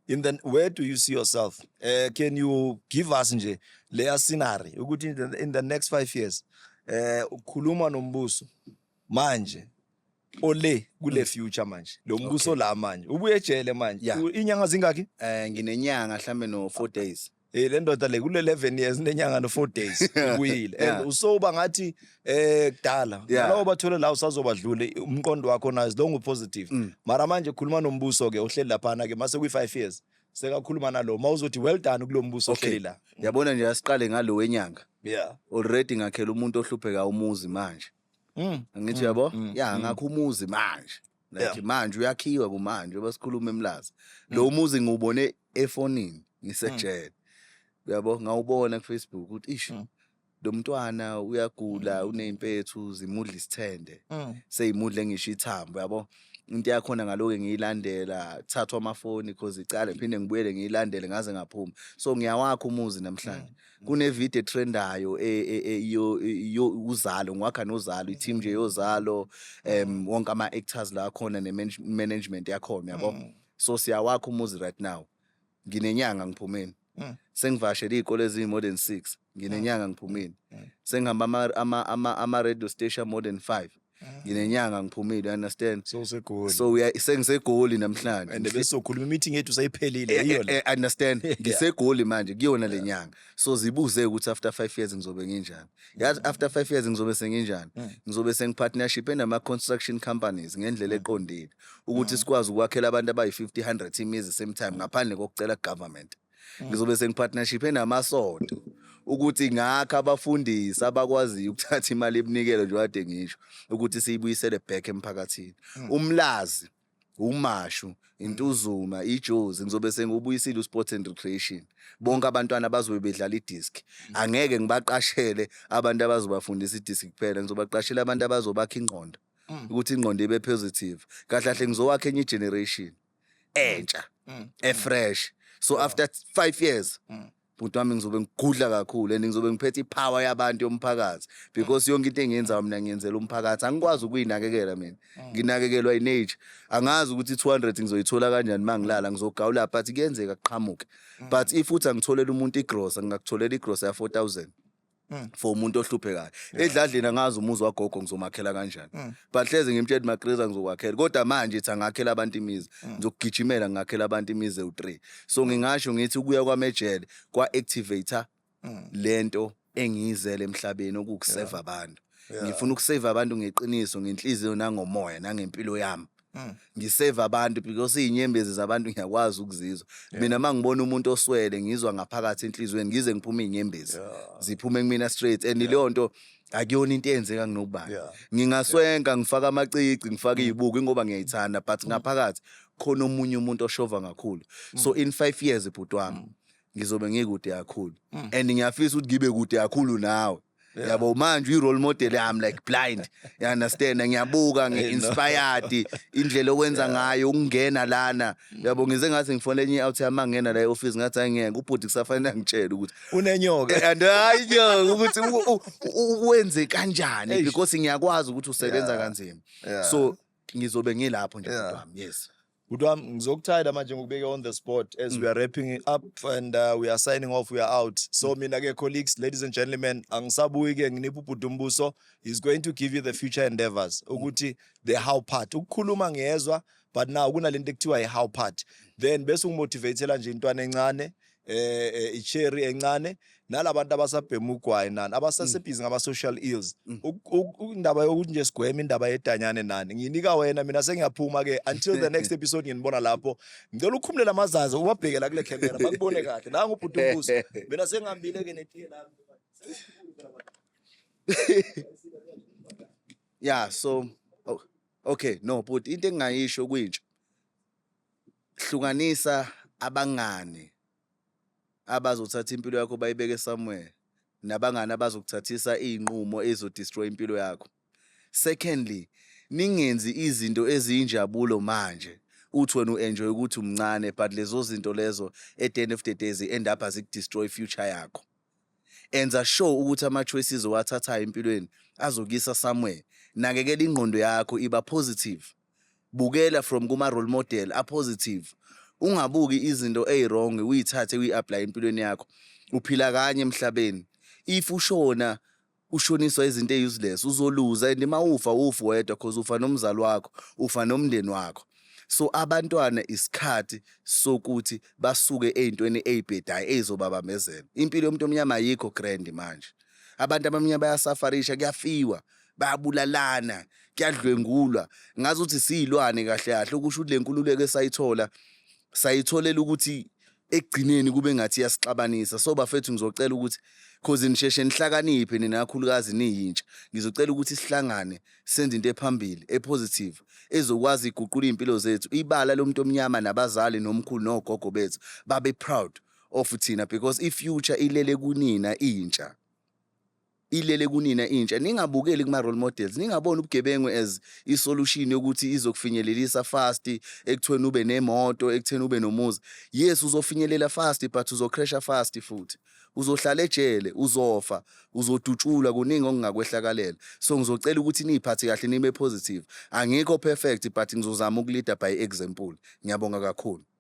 in the where do you see yourself uh, can you give us nje leya scenery ukuthi in the, in the next 5 years eh uh, ukhuluma nombuso manje ole kule mm. future manje lo mbuso la manje ubuye ejele manje inyanga zingaki eh nginenyanga mhlambe no 4 days Eh le ndoda le kule 11 years nenyanga no 4 days ubuyile Yeah. and usoba ngathi eh kudala Yeah. nalowo bathole la usazobadlule umqondo wakho nayo longu positive Mm. mara manje khuluma nombuso ke ohleli laphana ke mase kwi 5 years sekakhuluma nalo mawuzothi well done kulombuso Okay. ohleli la yabona nje asiqale ngalo wenyanga yeah already ngakhela umuntu ohlupheka umuzi manje mm. angithi uyabo Mm, ya mm. ngakho umuzi manje like yeah. manje uyakhiwa kumanje basikhuluma emlazi mm. lo muzi ngiwubone efonini ngisejele mm. uyabo ngawubona kufacebook ukuthi ish mm. lo mntwana uyagula mm. uney'mpethu zimudla isithende mm. seyimudle ngisho ithambo yabo into yakhona ngaloke ngiyilandela thathwa amafoni cause icala ngiphinde ngibuyele ngiyilandele ngaze ngaphuma so ngiyawakha umuzi namhlanje mm. kunevideo etrendayo e, e, e, yo yo uzalo ngwakha nozalo i-team nje yozalo um wonke ama-actors la akhona ne-management yakhona yabo Mm. so siyawakha umuzi right now nginenyanga ngiphumeni Mm. sengivashele iy'kole eziyi-more than six nginenyanga ngiphumeni Mm. sengihamba ama- ama- ama- ama-radio station more than five nginenyanga ngiphumile understand so usegoli so uya sengisegoli namhlanje and besokhuluma imeeting yethu sayiphelile eh, yiyo eh, la eh, understand ngisegoli manje kuyona lenyanga so zibuze ukuthi after 5 years ngizobe nginjani yazi mm. after 5 years ngizobe senginjani mm. ngizobe sengipartnership enama construction companies ngendlela mm. eqondile ukuthi sikwazi ukwakhela abantu abayi 50 100 imizi same time ngaphandle kokucela government mm. ngizobe sengipartnership enamasonto ukuthi ngakho abafundisi abakwaziyo ukuthatha imali ebunikelo nje wade ngisho ukuthi siyibuyisele back emphakathini mm. umlazi umashu intuzuma ijozi ngizobe sengubuyisile usport and recreation bonke abantwana bazobe bedlala idisc mm. angeke ngibaqashele abantu abazobafundisa idisc kuphela ngizobaqashela abantu abazobakha ingqondo mm. ukuthi ingqondo ibe positive kahle kahle ngizowakha enye generation entsha Mm. efresh so after 5 years Mm. bhuti wami ngizobe ngigudla kakhulu and ngizobe ngiphethe ipower yabantu yomphakathi because yonke into engiyenzayo mina ngiyenzela umphakathi angikwazi ukuyinakekela mina Mm. nginakekelwa inage angazi ukuthi 200 ngizoyithola kanjani mangilala ngizogawula but kuyenzeka kuqhamuke Mm. but if uthi angitholela umuntu igrosa ngingakutholela igrosa ya 4000 Mm. for umuntu ohluphekayo edladleni angazi umuzi wagogo ngizomakhela kanjani Mm. but hleze ngimtshela ukuthi magreza ngizokwakhela kodwa manje ithi angakhela abantu imizi Mm. ngizokugijimela ngingakhela abantu imizi ewu-three so ngingasho ngithi ukuya kwami ejele kwa-activator Mm. le nto engiyizele emhlabeni okuwukuseva abantu Yeah. ngifuna ukuseva abantu ngeqiniso ngenhliziyo nangomoya nangempilo yami Mm. ngisave abantu because izinyembezi zabantu ngiyakwazi ukuzizwa mina mangibona umuntu oswele ngizwa ngaphakathi enhlizweni ngize ngiphume izinyembezi ziphume kumina straight and leyo nto akuyona into eyenzeka kunobani ngingaswenka ngifaka amacici ngifaka mm. izibuko ingoba ngiyayithanda but mm. ngaphakathi khona omunye umuntu oshova kakhulu so in 5 years ibhuti wami ngizobe ngikude kakhulu and ngiyafisa ukuthi ngibe kude kakhulu nawe yabo manje uyi-role model yami like blind you understand ngiyabuka ngi-inspired indlela owenza ngayo ukungena lana yabo ngize ngathi ngifona enye i-out yami angena la e-office ngathi hayi ngeke ubhuti kusafanele angitshele ukuthi unenyoka Eh, and hayi nyoka ukuthi u- u- u- uwenze kanjani Eish. because ngiyakwazi ukuthi usebenza Yeah. kanzima Yeah. so ngizobe ngilapho nje Yeah. bhuti wami yes Good one. Ngizokuthatha manje ngikubeke on the spot as mm. we are wrapping it up and uh, we are signing off. We are out. So mm. mina ke colleagues, ladies and gentlemen, angisabuyi ke nginipha ubhudumbuso. He's going to give you the future endeavors. Mm. Ukuthi the how part. Ukukhuluma ngiyezwa but now kunalento ekuthiwa i how part. Then bese ungimotivatela nje intwana encane eh, eh icherry encane nalabantu abasabhema ugwayi nani abasasebhizi ngama social ills Mm. Uk- uk- indaba yokuthi nje sigweme indaba yedanyane nani nginika wena mina sengiyaphuma ke until the next episode nginibona lapho ngicela ukukhumulela amazazi ubabhekela kule camera bakubone kahle nangu ubhuti umbuso mina sengihambile ke netiye lami yeah so oh, okay no but into engingayisho kwintsha hlukanisa abangani abazothatha impilo yakho bayibeke somewhere nabangani abazokuthathisa iy'nqumo ezodestroy impilo yakho secondly ningenzi izinto eziyinjabulo manje uthi wena u-enjoy ukuthi umncane but lezo zinto lezo at the end of the day zi-end up azikudestroy future yakho enza sure ukuthi ama-choices owathathayo empilweni azokuyisa somewhere nakekela ingqondo yakho iba positive bukela from kuma role model a positive ungabuki izinto eziwrong uyithathe uyi-apply empilweni yakho uphila kanye emhlabeni if ushona ushoniswa izinto eyi-useless uzoluza and uma ufa ufi wedwa cause ufa nomzali wakho ufa nomndeni wakho so abantwana isikhathi sokuthi basuke ey'ntweni ey'bhedayo ey'zobabambezela impilo yomuntu omnyama ayikho grand manje abantu abamnyama bayasafarisha kuyafiwa bayabulalana kuyadlwengulwa ngazi ukuthi siyilwane kahle kahle okusho ukuthi le nkululeko esayithola sayitholela ukuthi ekugcineni kube ngathi iyasixabanisa so bafethu ngizocela ukuthi cause nisheshe nihlakaniphe nina kakhulukazi niyintsha ngizocela ukuthi sihlangane senze into ephambili epositive ezokwazi iguqula izimpilo zethu ibala lomuntu omnyama nabazali nomkhulu nogogo bethu babe proud of thina because i future ilele kunina intsha ilele kunina intsha ningabukeli kuma role models ningabona ubugebengu as i solution yokuthi izokufinyelelisa fast ekuthweni ube nemoto ekutheni ube nomuzi yes uzofinyelela fast but uzocrasha fast futhi uzohlala ejele uzofa uzodutshulwa kuningi okungakwehlakalela so ngizocela ukuthi niyiphathe kahle nibe positive angikho perfect but ngizozama ukulida by example ngiyabonga kakhulu